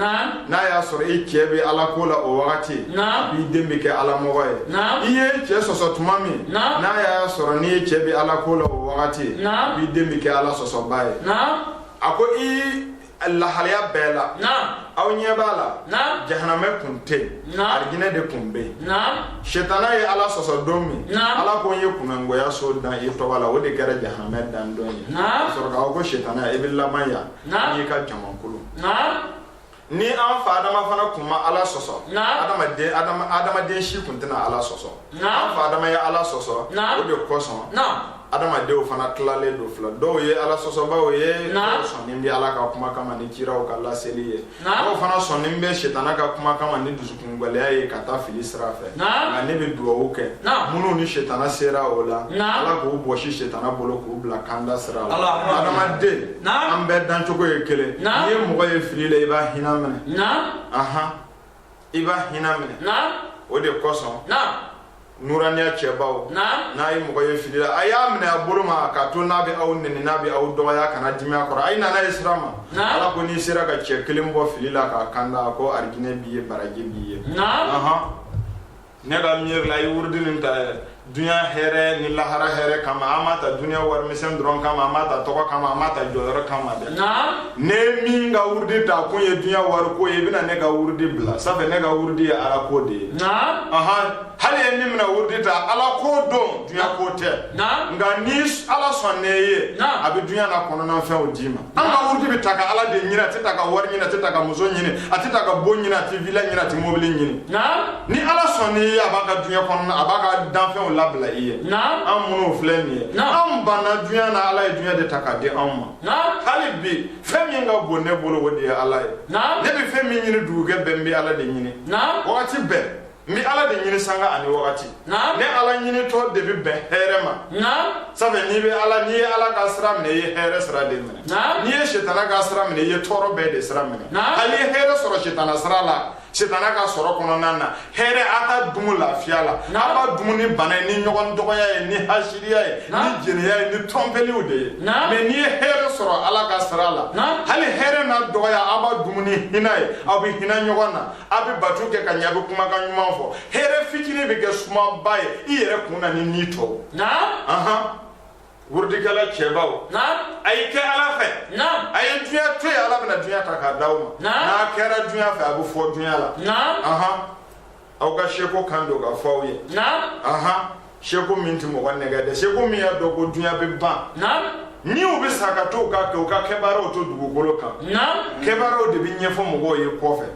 n'a y'a sɔrɔ i cɛ bɛ ala ko la o wagati i den bɛ kɛ ala mɔgɔ ye i y'i cɛ sɔsɔ tuma min n'a y'a sɔrɔ n'i ye cɛ bɛ ala ko la o wagati i den bɛ kɛ ala sɔsɔba ye a ko i lahalaya bɛɛ la aw ɲɛ b'a la jahanamɛ kun tɛ yen arijinɛ de kun bɛ yen sitana ye ala sɔsɔ don min ala ko n ye kunnagoya so dan i tɔgɔ la o de kɛra jahanamɛ dan don ye sɔrɔ k'a ko sitana i bɛ laban yan n'i ka jamakulu ni an fa adama fana kun ma ala sɔsɔ adamaden adama adamaden si kun tɛna ala sɔsɔ an fa adama ye ala sɔsɔ o de kosɔn adamadenw fana tilalen don fila dɔw ye ala sɔsɔbaw ye dɔw sɔnnen bɛ ala ka kumakan ma ni kiraw ka laseli ye dɔw fana sɔnnen bɛ sitana ka kumakan ma ni dusu kungɛlɛya ye ka taa fili sira fɛ nka ne bɛ dugawu kɛ minnu ni setana sera u la ala k'u bɔsi setana bolo k'u bila kanda sira la adamaden an bɛɛ dancogo ye kelen n'i ye mɔgɔ ye fili la i b'a hinɛ minɛ i b'a hinɛ minɛ o de kosɔn nuraniya cɛbaw n'a ye mɔgɔ ye fili la a y'a minɛ a bolo ma k'a to n'a bɛ aw nɛni n'a bɛ aw dɔgɔya kana dimi a kɔrɔ a ye na n'a ye sira ma ala ko n'i sera ka cɛ kelen bɔ fili la k'a kanda a ko arijinɛ b'i ye baraji b'i ye ne ka miiri la i wurudi nin ta dunya hɛrɛ ni lahara hɛrɛ kama an m'a ta dunya warimisɛn dɔrɔn kama an m'a ta tɔgɔ kama an m'a ta jɔyɔrɔ kama dɛ n'e min ka wurudi ta kun ye dunya wariko ye i bɛna ne ka wurudi bila sabu ne ka wurudi ye ala ko de ye hali e min bɛna wurudi ta ala ko don dunya ko tɛ nka ni ala sɔnna i ye a bɛ dunya na kɔnɔna fɛnw d'i ma an ka wurudi bɛ ta ka ala de ɲini a tɛ ta ka wari ɲini a tɛ ta ka muso ɲini a tɛ ta ka bon ɲini a tɛ vila ɲini a tɛ mobili ɲini ni ala sɔnna i ye a b'a ka dunya kɔnɔna a b'a ka danfɛnw labila i ye an minnu filɛ nin ye an banna dunya na ala ye dunya de ta k'a di anw ma hali bi fɛn min ka bon ne bolo o de ye ala ye ne bɛ fɛn min ɲini dugujɛ bɛɛ n bɛ ala de ɲini wagati bɛɛ n bɛ ala de ɲini sanga ani wagati ne ala ɲinitɔ de bɛ bɛn hɛrɛ ma sabu n'i bɛ ala n'i ye ala ka sira minɛ i ye hɛrɛ sira de minɛ n'i ye sitana ka sira minɛ i ye tɔɔrɔ bɛɛ de sira minɛ hali i ye hɛrɛ sɔrɔ sitana sira la setana ka sɔrɔ kɔnɔna na hɛrɛ a t'a dumu lafiya la a b'a dumu ni bana ye ni ɲɔgɔn dɔgɔya ye ni hasiriya ye ni jɛnɛya ye ni tɔnpeliw de ye mɛ n'i ye hɛrɛ sɔrɔ ala ka sira la hali hɛrɛ n'a dɔgɔya a b'a dumu ni hinɛ ye aw bɛ hinɛ ɲɔgɔn na a bɛ bato kɛ ka ɲɛ a bɛ kumakan ɲuman fɔ hɛrɛ fitinin bɛ kɛ sumaba ye i yɛrɛ kun na ni ni tɔw Wurudikɛla cɛbaw, naamu, a y'a kɛ Ala fɛ, naamu, a ye dunya to yen Ala bɛna dunya ta k'a d'aw ma, naamu, n'a kɛra dunya fɛ a bɛ fɔ dunya la, naamu, anhan, aw ka seko kan don ka fɔ aw ye, naamu, anhan, seko min tɛ mɔgɔ nɛgɛn dɛ, seko min y'a dɔn ko dunya bɛ ban, naamu, ni u bɛ sa ka to u ka kɛ u ka kɛbaaraw to dugukolo kan, naamu, kɛbaaraw de bɛ ɲɛfɔ mɔgɔw ye kɔfɛ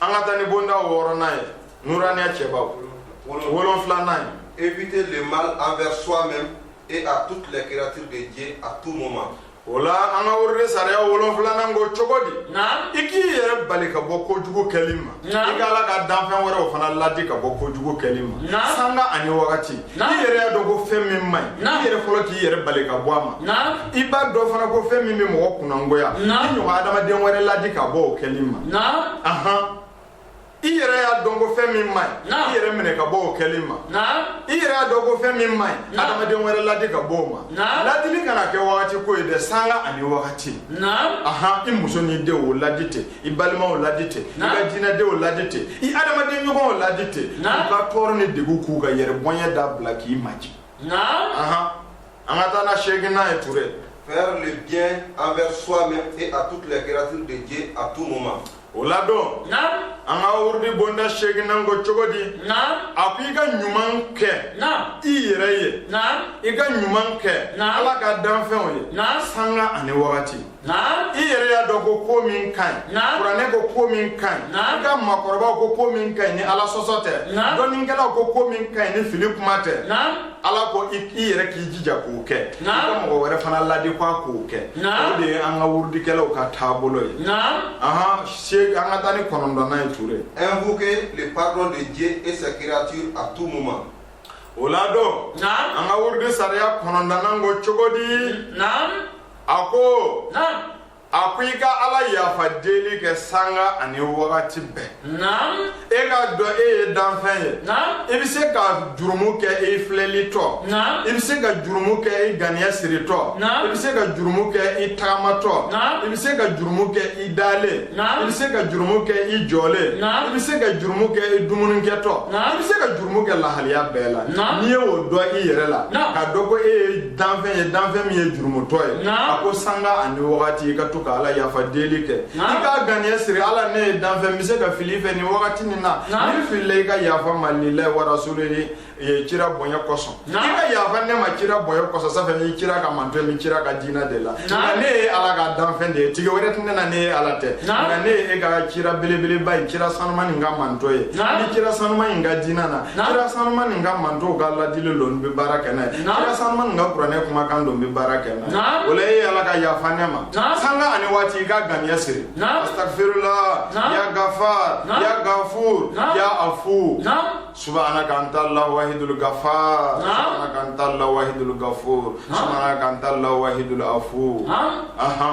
an ka taa ni bonda wɔɔrɔnan ye nuraniya cɛbaw wolonfilanan ye éviter le mal envers soi-même et à toutes les créatures de Dieu à tout moment o la an ka wurudi sariya wolonfilanan ko cogo di i k'i yɛrɛ bali ka bɔ kojugu kɛli ma i ka ala ka danfɛn wɛrɛw fana ladi ka bɔ kojugu kɛli ma sanga ani wagati Naam. i yɛrɛ y'a dɔn ko fɛn min man ɲi Naam. i yɛrɛ fɔlɔ k'i yɛrɛ bali ka bɔ a ma Naam. i b'a dɔn fana ko fɛn min bɛ mɔgɔ kunnangoya i Naam. ɲɔgɔn adamaden wɛrɛ ladi ka bɔ o kɛli ma Naam. ahan i yɛrɛ y'a dɔn ko fɛn min man ɲi Naam. i yɛrɛ minɛ ka bɔ o kɛli ma Naam. i yɛrɛ y'a dɔn ko fɛn min man ɲi Naam. adamaden wɛrɛ ladi ka bɔ o ma Naam. ladili kana kɛ wagati ko ye dɛ sanga ani wagati Naam. ahan i muso n'i denw ladi ten i balimaw ladi ten i ka diinɛdenw ladi ten i adamaden ɲɔgɔnw ladi ten u ka tɔɔrɔ ni degun k'u ka yɛrɛbonya dabila k'i maji an ka taa ni seeginan ye ture faire le bien envers soi-même et à toutes les créatures de Dieu à tout moment o la dɔn an ka wurudi bonda seeginan ko cogo di a ko i ka ɲuman kɛ i yɛrɛ ye i ka ɲuman kɛ ala ka danfɛnw ye sanga ani wagati i yɛrɛ y'a dɔn ko ko min ka ɲi kuranɛ ko ko min ka ɲi i ka makɔrɔbaw ko ko min ka ɲi ni ala sɔsɔ tɛ dɔnnikɛlaw ko ko min ka ɲi ni fili kuma tɛ a la ko i yɛrɛ k'i jija k'o kɛ i ka mɔgɔ wɛrɛ fana ladi ko a k'o kɛ o de ye an ka wurudikɛlaw ka taabolo ye ahan se an ka taa ni kɔnɔntɔnnan ye ture invoquer le pardon de Dieu et sa créature à tout moment o la dɔn an ka wurudi sariya kɔnɔntɔnnan ko cogo di a ko a ko i ka ala yafa deli kɛ sanga ani wagati bɛɛ e k'a dɔn e ye danfɛn ye i bɛ se ka jurumu kɛ i filɛlitɔ i bɛ se ka jurumu kɛ i ganiya siritɔ i bɛ se ka jurumu kɛ i tagamatɔ i bɛ se ka jurumu kɛ i dalen i bɛ se ka jurumu kɛ i jɔlen i bɛ se ka jurumu kɛ i dumunikɛtɔ i bɛ se ka jurumu kɛ lahaliya bɛɛ la n'i ye o dɔn i yɛrɛ la k'a dɔn ko e ye danfɛn ye danfɛn min ye jurumutɔ ye a ko sanga ani wagati i ka to ka ala yafa deli kɛ i k'a ganiya siri ala ne ye danfɛn n bɛ se ka fili fɛ nin wagati nin na ni n filila i ka yafa n ma lilayi wa rasulihi ye kira bonya kosɔn i ka yafa ne ma kira bonya kosɔn sanfɛ n ye kira ka mantɔn ye n bɛ kira ka diinɛ de la nka ne ye ala ka danfɛn de ye tigi wɛrɛ tɛ ne na ne ye ala tɛ nka ne ye e ka kira belebeleba ye kira sanuma nin ka mantɔn ye ni kira sanuma in ka diinɛ na kira sanuma nin ka mantow ka ladili lo n bɛ baara kɛ n'a ye kira sanuma nin ka kuranɛ kumakan lo n bɛ baara kɛ n'a ye o la e ye ala ka yafa ne ma sanga ani waati i ka ganiya siri astagfirullah ya gafar ya gafur ya afu subhanaka anta allah wahidul gafar subhanaka anta allah wahidul gafur subhanaka anta allah wahidul afu aha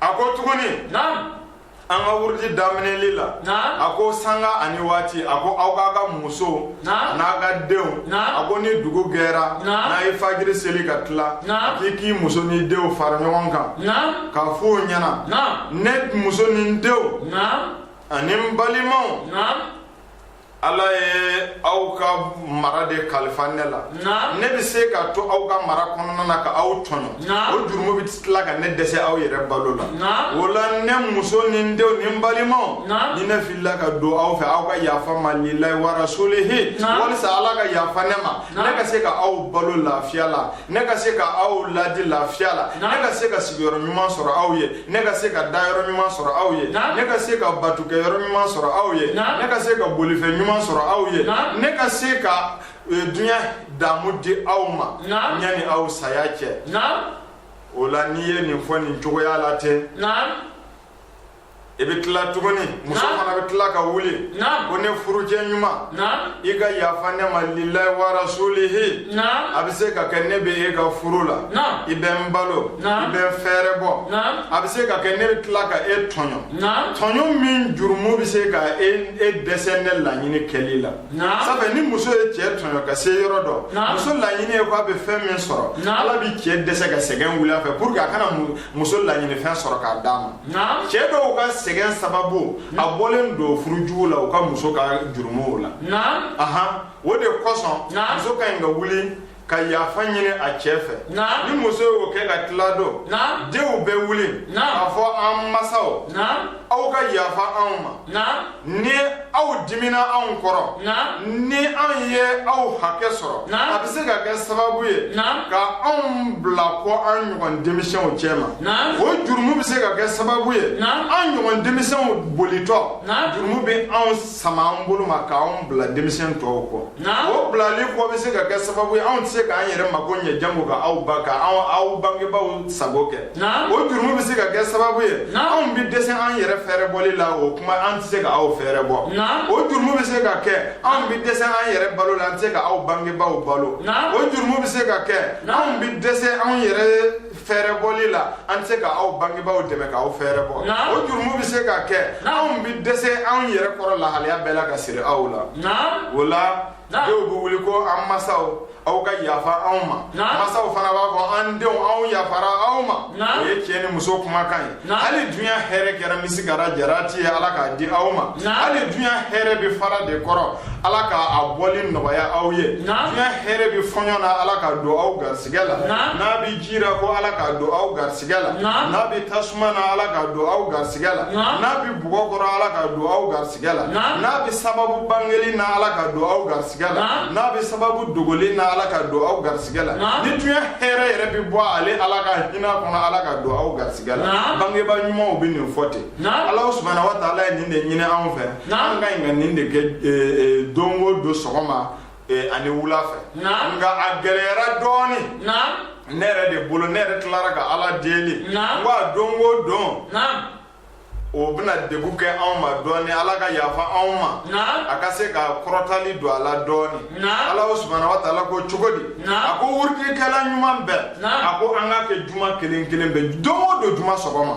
a ko tuguni an ka wurudi daminɛli la a ko sanga ani waati a ko aw k'a ka muso n'a ka denw a ko ni dugu gɛra n'a ye fajiri seli ka tila a k'i k'i muso ni denw fara ɲɔgɔn kan ka fɔ o ɲɛna ne muso ni denw ani n balimaw ala ye aw ka mara de kalifa ne la ne bɛ se ka to aw ka mara kɔnɔna na ka aw tɔɲɔ o jurumu bɛ tila ka ne dɛsɛ aw yɛrɛ balo la o la ne muso ni n denw ni n balimaw ni ne filila ka don aw fɛ aw ka yafa n ma lilayi warasulihi walisa ala ka yafa ne ma ne ka se ka aw balo lafiya la ne ka se ka aw ladi lafiya la ne ka se ka sigiyɔrɔ ɲuman sɔrɔ aw ye ne ka se ka dayɔrɔ ɲuman sɔrɔ aw ye ne ka se ka batokɛyɔrɔ ɲuman sɔrɔ aw ye ne ka se ka bolifɛn ɲuman sɔrɔ aw ye ne ka se ka e, duniɲa damu di aw ma yani aw saya cɛ o la n'i ye nin fɔ nin cogoya la ten i bɛ tila tuguni muso fana bɛ tila ka wuli ko ne furucɛ ɲuman i ka yafa ne ma lilayi warasulihi a bɛ se ka kɛ ne bɛ e ka furu la i bɛ n balo i bɛ n fɛɛrɛ bɔ a bɛ se ka kɛ ne bɛ tila ka e tɔɲɔ tɔɲɔ min jurumu bɛ se ka e dɛsɛ ne laɲini kɛli la sabu ni muso ye cɛ tɔɲɔ ka se yɔrɔ dɔ muso laɲini ye ko a bɛ fɛn min sɔrɔ ala bɛ cɛ dɛsɛ ka sɛgɛn wuli a fɛ pour que a kana mun muso laɲinifɛn sɔrɔ k'a d'a ma Naam. cɛ dɔw ka sɛgɛn sababu a bɔlen don furujugu la u ka muso ka jurumuw la Naam. ahan o de kosɔn Naam. muso ka ɲi ka wuli ka yafa ɲini a cɛ fɛ Naam. ni muso y'o kɛ ka tila don Naam. denw bɛ wuli Naam. k'a fɔ an masaw Naam. aw ka yafa anw ma Naam. ni aw dimina anw kɔrɔ ni anw ye aw hakɛ sɔrɔ a bɛ se ka kɛ sababu ye ka anw bila kɔ an ɲɔgɔn denmisɛnw cɛma o jurumu bɛ se ka kɛ sababu ye an ɲɔgɔn denmisɛnw bolitɔ jurumu bɛ anw sama an bolo ma k'an bila denmisɛn tɔw kɔ o bilali kɔ bɛ se ka kɛ sababu ye anw tɛ se k'an yɛrɛ mako ɲɛ janko ka aw ba ka aw bangebaaw sago kɛ o jurumu bɛ se ka kɛ sababu ye anw bɛ dɛsɛ an yɛrɛ fɛɛrɛ bɔli la o kuma an tɛ se ka aw fɛɛrɛ bɔ o jurumu bɛ se ka kɛ anw bɛ dɛsɛ an yɛrɛ balo la an tɛ se ka aw bangebaaw balo o jurumu bɛ se ka kɛ anw bɛ dɛsɛ anw yɛrɛ fɛɛrɛ bɔli la an tɛ se ka aw bangebaaw dɛmɛ k'aw fɛɛrɛ bɔ o jurumu bɛ se ka kɛ anw bɛ dɛsɛ anw yɛrɛ kɔrɔ lahalaya bɛɛ la ka siri aw la o la denw bɛ wuli ko an masaw aw ka yafa anw ma masaw fana b'a fɔ an denw anw yafara aw ma o ye cɛ ni muso kumakan ye hali dunya hɛrɛ kɛra misikala jarati ye ala k'a di aw ma hali dunya hɛrɛ bɛ fara de kɔrɔ ala k'a bɔli nɔgɔya aw ye dunya hɛrɛ bɛ fɔɲɔ na ala k'a don aw garisɛgɛ la n'a bɛ ji ra ko ala k'a don aw garisɛgɛ la n'a bɛ tasuma na ala k'a don aw garisɛgɛ la n'a bɛ bɔgɔ kɔrɔ ala k'a don aw garisɛgɛ la n'a bɛ sababu bangelen na ala k'a don aw garisɛgɛ garisɛgɛ la n'a bɛ sababu dogolen na ala k'a don aw garisɛgɛ la ni dunya hɛrɛ yɛrɛ bɛ bɔ ale ala ka hinɛ kɔnɔ ala k'a don aw garisɛgɛ la bangebaa ɲumanw bɛ nin fɔ ten ala subahana wa taala ye nin de ɲini anw fɛ an ka ɲi ka nin de kɛ e, e, don o don sɔgɔma e, ani wula fɛ nka a gɛlɛyara dɔɔnin ne yɛrɛ de bolo ne yɛrɛ tilara ka ala deli n ko a don o don o bɛna degun kɛ anw ma dɔɔni ala ka yafa anw ma a ka se ka kɔrɔtali don a la dɔɔni alahu subahana wa taala ko cogo di a ko wurudikɛla ɲuman bɛɛ a ko an k'a kɛ juma kelen kelen bɛɛ don o don juma sɔgɔma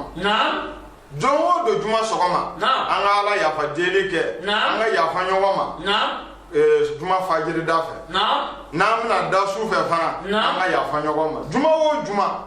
don o don juma sɔgɔma an ka ala yafa deli kɛ an ka yafa ɲɔgɔn ma Eh, juma fajiri da fɛ n'an bɛna da su fɛ fana an ka yafa ɲɔgɔn ma juma o juma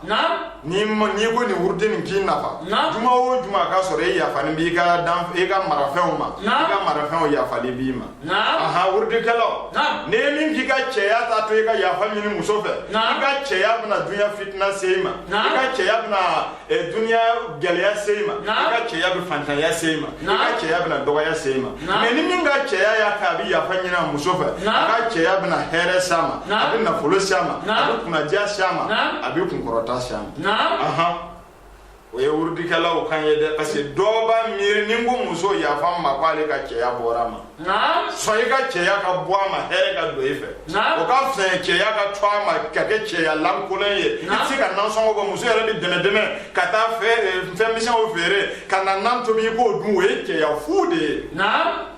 n'i n'i ko nin wurudi nin k'i nafa juma o juma a ka sɔrɔ e yafalen b'i ka dan i ka marafɛnw ma i ka marafɛnw yafalen b'i ma aha wurudikɛlaw ni e min k'i ka cɛya t'a to i ka yafa ɲini muso fɛ i ka cɛya bɛna dunya fitina se i ma i ka cɛya bɛna Eh, duniya gɛlɛya se i ma i ka cɛya bɛ fantanya se i ma i ka cɛya bɛna dɔgɔya se i ma mais ni min ka cɛya y'a kɛ a bɛ yafa ɲini a muso fɛ a ka cɛya bɛna hɛrɛ s'a ma a bɛ nafolo s'a ma a bɛ kunnadiya s'a ma a bɛ kunkɔrɔta s'a ma o ye wurudikɛlaw kan ye dɛ parce que dɔw b'a miiri ni n ko muso yafa n ma ko ale ka cɛya bɔra a ma sɔn i ka cɛya ka bɔ a ma hɛrɛ ka don i fɛ o ka fisa ye cɛya ka to a ma ka kɛ cɛya lankolon ye i tɛ se ka nansɔngɔ bɔ muso yɛrɛ bɛ dɛmɛdɛmɛ ka taa fɛn misɛnw feere ka na nan tobi i k'o dun o ye cɛya fu de ye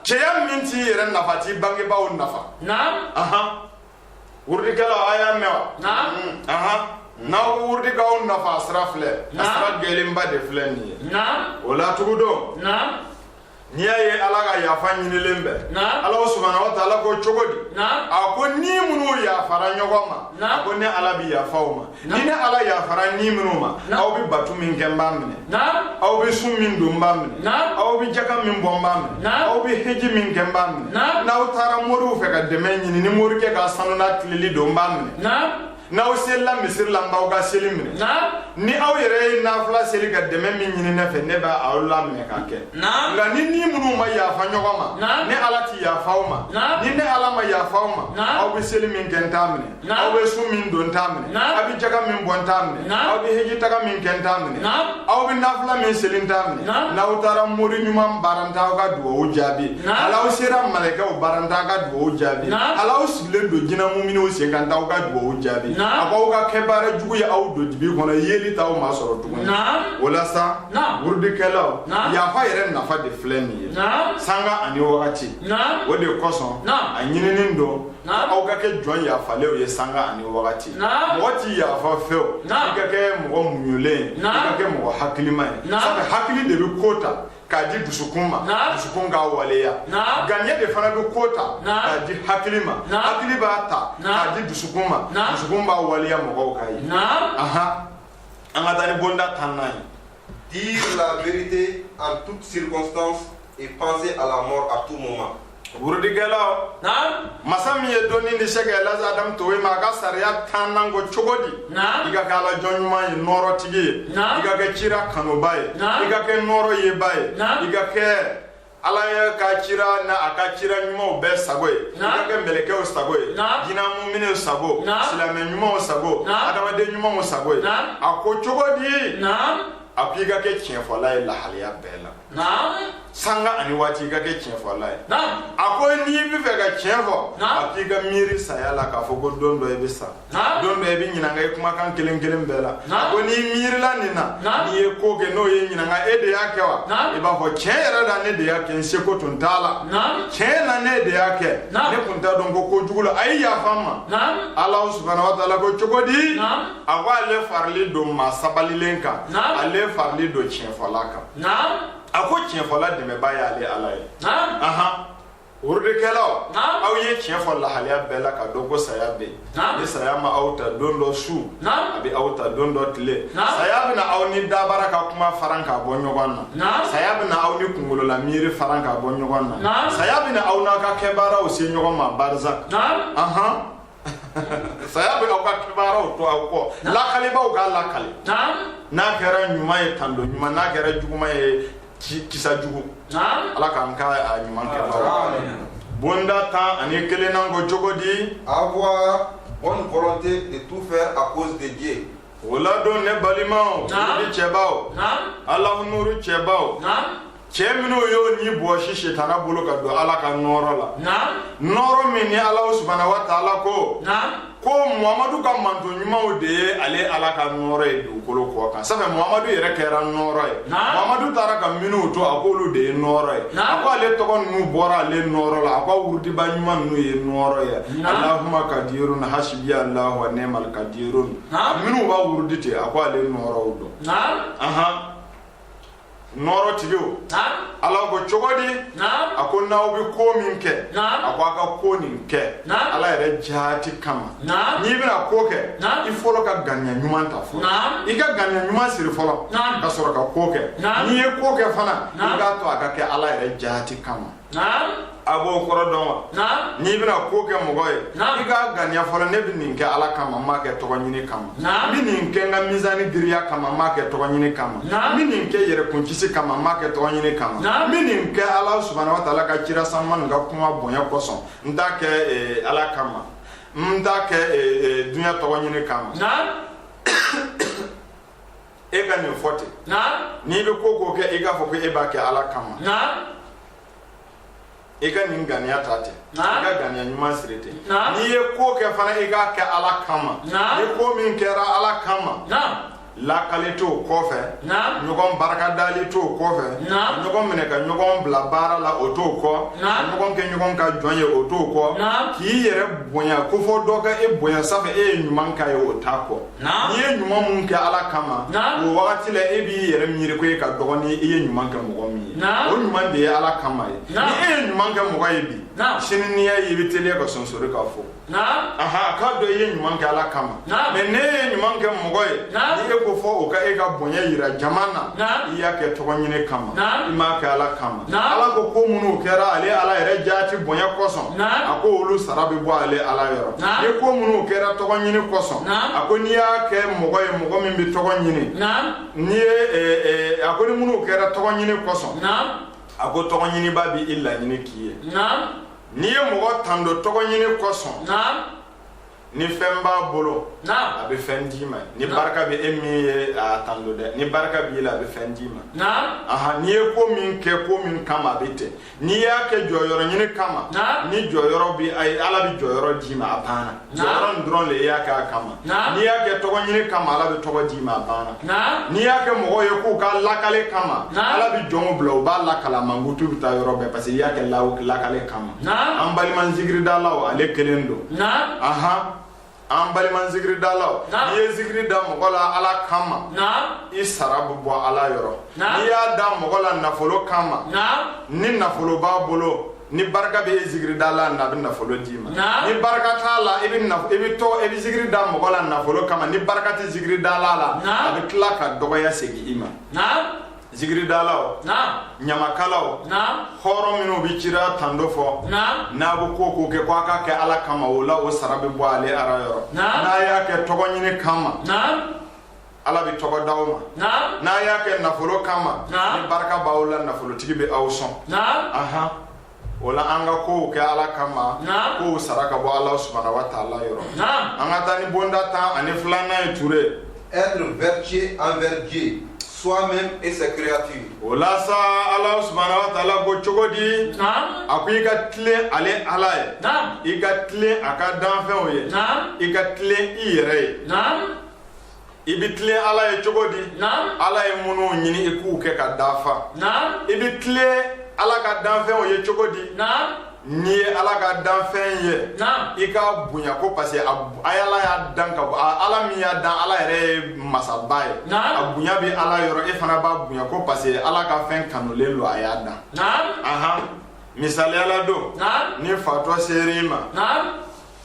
cɛya min t'i yɛrɛ nafa t'i bangebaaw nafa wurudikɛlaw a y'a mɛn wa n'aw bɛ wurudi k'aw nafa a sira filɛ a sira gɛlɛnba de filɛ nin ye o la tugu don n'i y'a ye ala ka yafa ɲinilen bɛ ala subahana wa taala ko cogo di a ko ni minnu yafara ɲɔgɔn ma a ko ne ala bɛ yafa o ma ni ne ala yafara ni minnu ma aw bɛ bato min kɛ n b'a minɛ aw bɛ sun min don n b'a minɛ aw bɛ jaka min bɔ n b'a minɛ aw bɛ heji min kɛ n b'a minɛ n'aw taara moriw fɛ ka dɛmɛ ɲini ni morikɛ ka sanuya tilennen don n b'a minɛ n'aw selila misiri la n b'aw ka seli minɛ ni aw yɛrɛ ye nafila seli ka dɛmɛ min ɲini ne fɛ ne bɛ aw laminɛ k'a kɛ nka ni ni minnu ma yafa ɲɔgɔn ma ne ala ti yafa aw ma ni ne ala ma yafa aw ma aw bɛ seli min kɛ n t'a minɛ aw bɛ sun min don n t'a minɛ aw bɛ jaga min bɔ n t'a minɛ aw bɛ heji taga min kɛ n t'a minɛ aw bɛ nafila min seli n t'a minɛ n'aw taara mori ɲuman bara n t'a ka dugawu jaabi hali aw sera malɛkɛw bara n t'a ka dugawu jaabi hali aw len don jina muminiw sen kan n t'aw ka dugawu jaabi a b'aw ka kɛbaara jugu ye aw don dibi kɔnɔ yeelen t'aw masɔrɔ tuguni o la sa wurudikɛlaw yafa yɛrɛ nafa de filɛ nin ye sanga ani wagati o de kosɔn a ɲininin don aw ka kɛ jɔn yafalenw ye sanga ani wagati mɔgɔ ti yafa fo i ka kɛ mɔgɔ muɲulen ye i ka kɛ mɔgɔ hakilima ye sabu hakili de bɛ ko ta k'a di dusukun ma dusukun k'a waleya ŋaniya de fana bɛ ko ta k'a di hakili ma hakili b'a ta k'a di dusukun ma dusukun b'a waleya mɔgɔw k'a ye an ka taa ni bonda tannan ye dire la vérité en toute circonstance et penser à la mort à tout moment Wurudikɛlaw, masa min ye dɔnni di Sɛkɛ Laz Adamu Togoye ma, a ka sariya tannan ko cogo di, i ka kɛ Ala jɔn ɲuman ye, nɔɔrɔtigi ye, i ka kɛ cira kanuba ye, i ka kɛ nɔɔrɔ yeba ye, i ka kɛ Ala ye ka cira n'a ka cira ɲumanw bɛɛ sago ye, i ka kɛ mɛlɛkɛw sago ye, jina muminiw sago, silamɛ ɲumanw sago, adamaden ɲumanw sago ye, a ko cogo di, a ko i ka kɛ tiɲɛfɔla ye lahalaya bɛɛ la. sanga ani waati i ka kɛ tiɲɛfɔla ye a ko n'i b'a fɛ ka tiɲɛ fɔ a k'i ka miiri saya la k'a fɔ ko don dɔ i bɛ sa don dɔ i bɛ ɲinanga i kumakan kelen kelen bɛɛ la a ko n'i miirila nin na n'i ye ko kɛ n'o ye ɲinanga e de y'a kɛ wa i b'a fɔ tiɲɛ yɛrɛ la ne de y'a kɛ n seko tun t'a la tiɲɛ na ne de y'a kɛ ne tun t'a dɔn ko ko jugu la a ye yafa n ma Alahu subahana wataala ko cogo di a ko ale faralen don maa sabalilen kan ale faralen don tiɲɛfɔla kan a ko tiɲɛfɔla dɛmɛbaa y'ale ala ye wurudikɛlaw aw ye tiɲɛ fɔ lahalaya bɛɛ la k'a dɔn ko saya bɛ yen ni saya ma aw ta don dɔ su a bɛ aw ta don dɔ tile saya bɛna aw ni dabara ka kuma fara ka bɔ ɲɔgɔn na saya bɛna aw ni kunkolola miiri fara ka bɔ ɲɔgɔn na saya bɛna aw n'a ka kɛbaaraw se ɲɔgɔn ma barzak saya bɛ aw ka kɛbaaraw to aw kɔ lakalibaaw k'a lakali n'a kɛra ɲuman ye tando ɲuman n'a kɛra juguman ye kisa jugu ala k'an ka a ɲuman kɛ bonda tan ani kelennan ko cogo di avoir bonne volonté de tout faire à cause de Dieu o ladon ne balimaw ni cɛbaw ala nuuru cɛbaw cɛ minnu y'u ni bɔsi sitana bolo ka don ala ka nɔɔrɔ la nɔɔrɔ min ni ala subahana wataala ko ko mamadu ka mantɔn ɲumanw de ye ale ala ka nɔɔrɔ ye dugukolo kɔ kan sabu mamadu yɛrɛ kɛra nɔɔrɔ ye mamadu taara ka minnu to a kɔ olu de ye nɔɔrɔ ye a ko ale tɔgɔ ninnu bɔra ale nɔɔrɔ la a ko a wurudiba ɲuman ninnu ye nɔɔrɔ ye alahuma kadirun hasibiya alahu wa nimal kadirun minnu b'a wurudi ten a ko ale nɔɔrɔw don nɔɔrɔ tigiw ala ko cogo di a ko n'aw bɛ ko min kɛ a ko a ka ko nin kɛ ala yɛrɛ jaati kama n'i bɛna ko kɛ i fɔlɔ ka ŋaniya ɲuman ta fɔlɔ i ka ŋaniya ɲuman siri fɔlɔ ka sɔrɔ ka ko kɛ n'i ye ko kɛ fana i k'a to a ka kɛ ala yɛrɛ jaati kama a b'o kɔrɔ dɔn wa n'i bɛna ko kɛ mɔgɔ ye i k'a ŋaniya fɔlɔ ne bɛ nin kɛ ala kama n m'a kɛ tɔgɔ ɲini kama n bɛ nin kɛ n ka mizani giriya kama n m'a kɛ tɔgɔ ɲini kama n bɛ nin kɛ yɛrɛkun kisi kama n m'a kɛ tɔgɔ ɲini kama n bɛ nin kɛ ala subahana wataala ka cira sanuman nin ka kuma bonya kosɔn n t'a kɛ eh, ala kama n t'a kɛ eh, eh, dunya tɔgɔ ɲini kama e ka nin fɔ ten n'i bɛ ko o ko kɛ i k'a fɔ ko e b'a kɛ ala kama i ka nin ŋaniya ta ten i ka ŋaniya ɲuman siri ten n'i ye ko kɛ fana i k'a kɛ ala kama ni ko min kɛra ala kama lakali t'o kɔfɛ ɲɔgɔn barakadali t'o kɔfɛ ɲɔgɔn minɛ ka ɲɔgɔn bila baara la o t'o kɔ ɲɔgɔn kɛ ɲɔgɔn ka jɔn ye o t'o kɔ k'i yɛrɛ bonya ko fo dɔ ka e bonya sanfɛ e ye ɲuman k'a ye o t'a kɔ n'i ye ɲuman min kɛ ala kama o wagati la e b'i yɛrɛ miiri ko e ka dɔgɔn ni i ye ɲuman kɛ mɔgɔ min ye o ɲuman de ye ala kama ye ni e ye ɲuman kɛ mɔgɔ ye bi sini n'i y'a ye i bɛ teliya ka sonsori k'a fo aha k'a dɔn i ye ɲuman kɛ ala kama mɛ ni e ye ɲuman kɛ mɔgɔ ye ni e ko fo o ka e ka bonya jira jama na i y'a kɛ tɔgɔ ɲini kama i m'a kɛ ala kama ala ko ko minnu kɛra ale ala yɛrɛ jaati bonya kosɔn a ko olu sara bɛ bɔ ale ala yɔrɔ ni ko minnu kɛra tɔgɔ ɲini kosɔn a ko n'i y'a kɛ mɔgɔ ye mɔgɔ min bɛ tɔgɔ ɲini ni ye a ko ni minnu kɛra tɔgɔ ɲini kosɔn a ko tɔgɔ ɲiniba bɛ i laɲini k'i ye n'i ye mɔgɔ tando tɔgɔ ɲini kosɔn ni fɛn b'a bolo a bɛ fɛn d'i ma ni barika bɛ e min ye a tando dɛ ni barika b'i la a bɛ fɛn d'i ma ahan n'i ye ko min kɛ ko min kama a bɛ ten n'i y'a kɛ jɔyɔrɔ ɲini kama ni jɔyɔrɔ bɛ a ye ala bɛ jɔyɔrɔ d'i ma a banna jɔyɔrɔ nin dɔrɔn de i y'a kɛ a kama n'i y'a kɛ tɔgɔ ɲini kama ala bɛ tɔgɔ d'i ma a banna n'i y'a kɛ mɔgɔw ye k'u k'a lakali kama ala bɛ jɔnw bila u b'a lakali a mankutu bɛ taa yɔrɔ bɛɛ parce que i y'a kɛ lakali kama an balima zikiridalaw ale kelen don ahan an balima zikiridalaw n'i ye zikiri da mɔgɔ la ala kama i sara bɛ bɔ ala yɔrɔ n'i y'a da mɔgɔ la nafolo kama ni nafolo b'a bolo ni barika bɛ e zikiridala na a bɛ nafolo d'i ma ni barika t'a la i bɛ i bɛ tɔgɔ i bɛ zikiri da mɔgɔ la nafolo kama ni barika tɛ zikiridala la a bɛ tila ka dɔgɔya segin i ma zikiridalaw ɲamakalaw hɔrɔn minnu bɛ cira tando fɔ n'a bɛ ko o ko kɛ ko a k'a kɛ ala kama o la o sara bɛ bɔ ale ala yɔrɔ n'a y'a kɛ tɔgɔ ɲini kama ala bɛ tɔgɔ da aw ma n'a y'a kɛ nafolo kama ni barika b'aw la nafolotigi bɛ aw sɔn o la an ka kow kɛ ala kama Naam. kow sara ka bɔ ala subahana wa taala yɔrɔ Naam. an ka taa ni bonda tan ani filanan ye ture Être vertueux envers Dieu, soi-même et ses créatures. o la sa ala subahana wa taala ko cogo di Naam. a ko i ka tilen ale ala ye Naam. i ka tilen a ka danfɛnw ye Naam. i ka tilen i yɛrɛ ye Naam. i bɛ tilen ala ye cogo di ala ye minnu ɲini i k'u kɛ ka dafa i bɛ tilen ala ka danfɛnw ye cogo di n'i ye ala ka danfɛn ye i k'a bonya ko parce que a ye ala y'a dan ka bɔ ala min y'a dan ala yɛrɛ ye masaba ye a bonya bɛ ala yɔrɔ e fana b'a bonya ko parce que ala ka fɛn kanulen don a y'a dan misaliya la don ni fatɔ sera i ma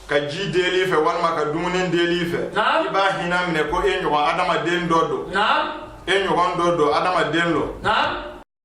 ka ji deli i fɛ walima ka dumuni deli i fɛ i b'a hinɛ minɛ ko e ɲɔgɔn adamaden dɔ don e ɲɔgɔn dɔ don adamaden don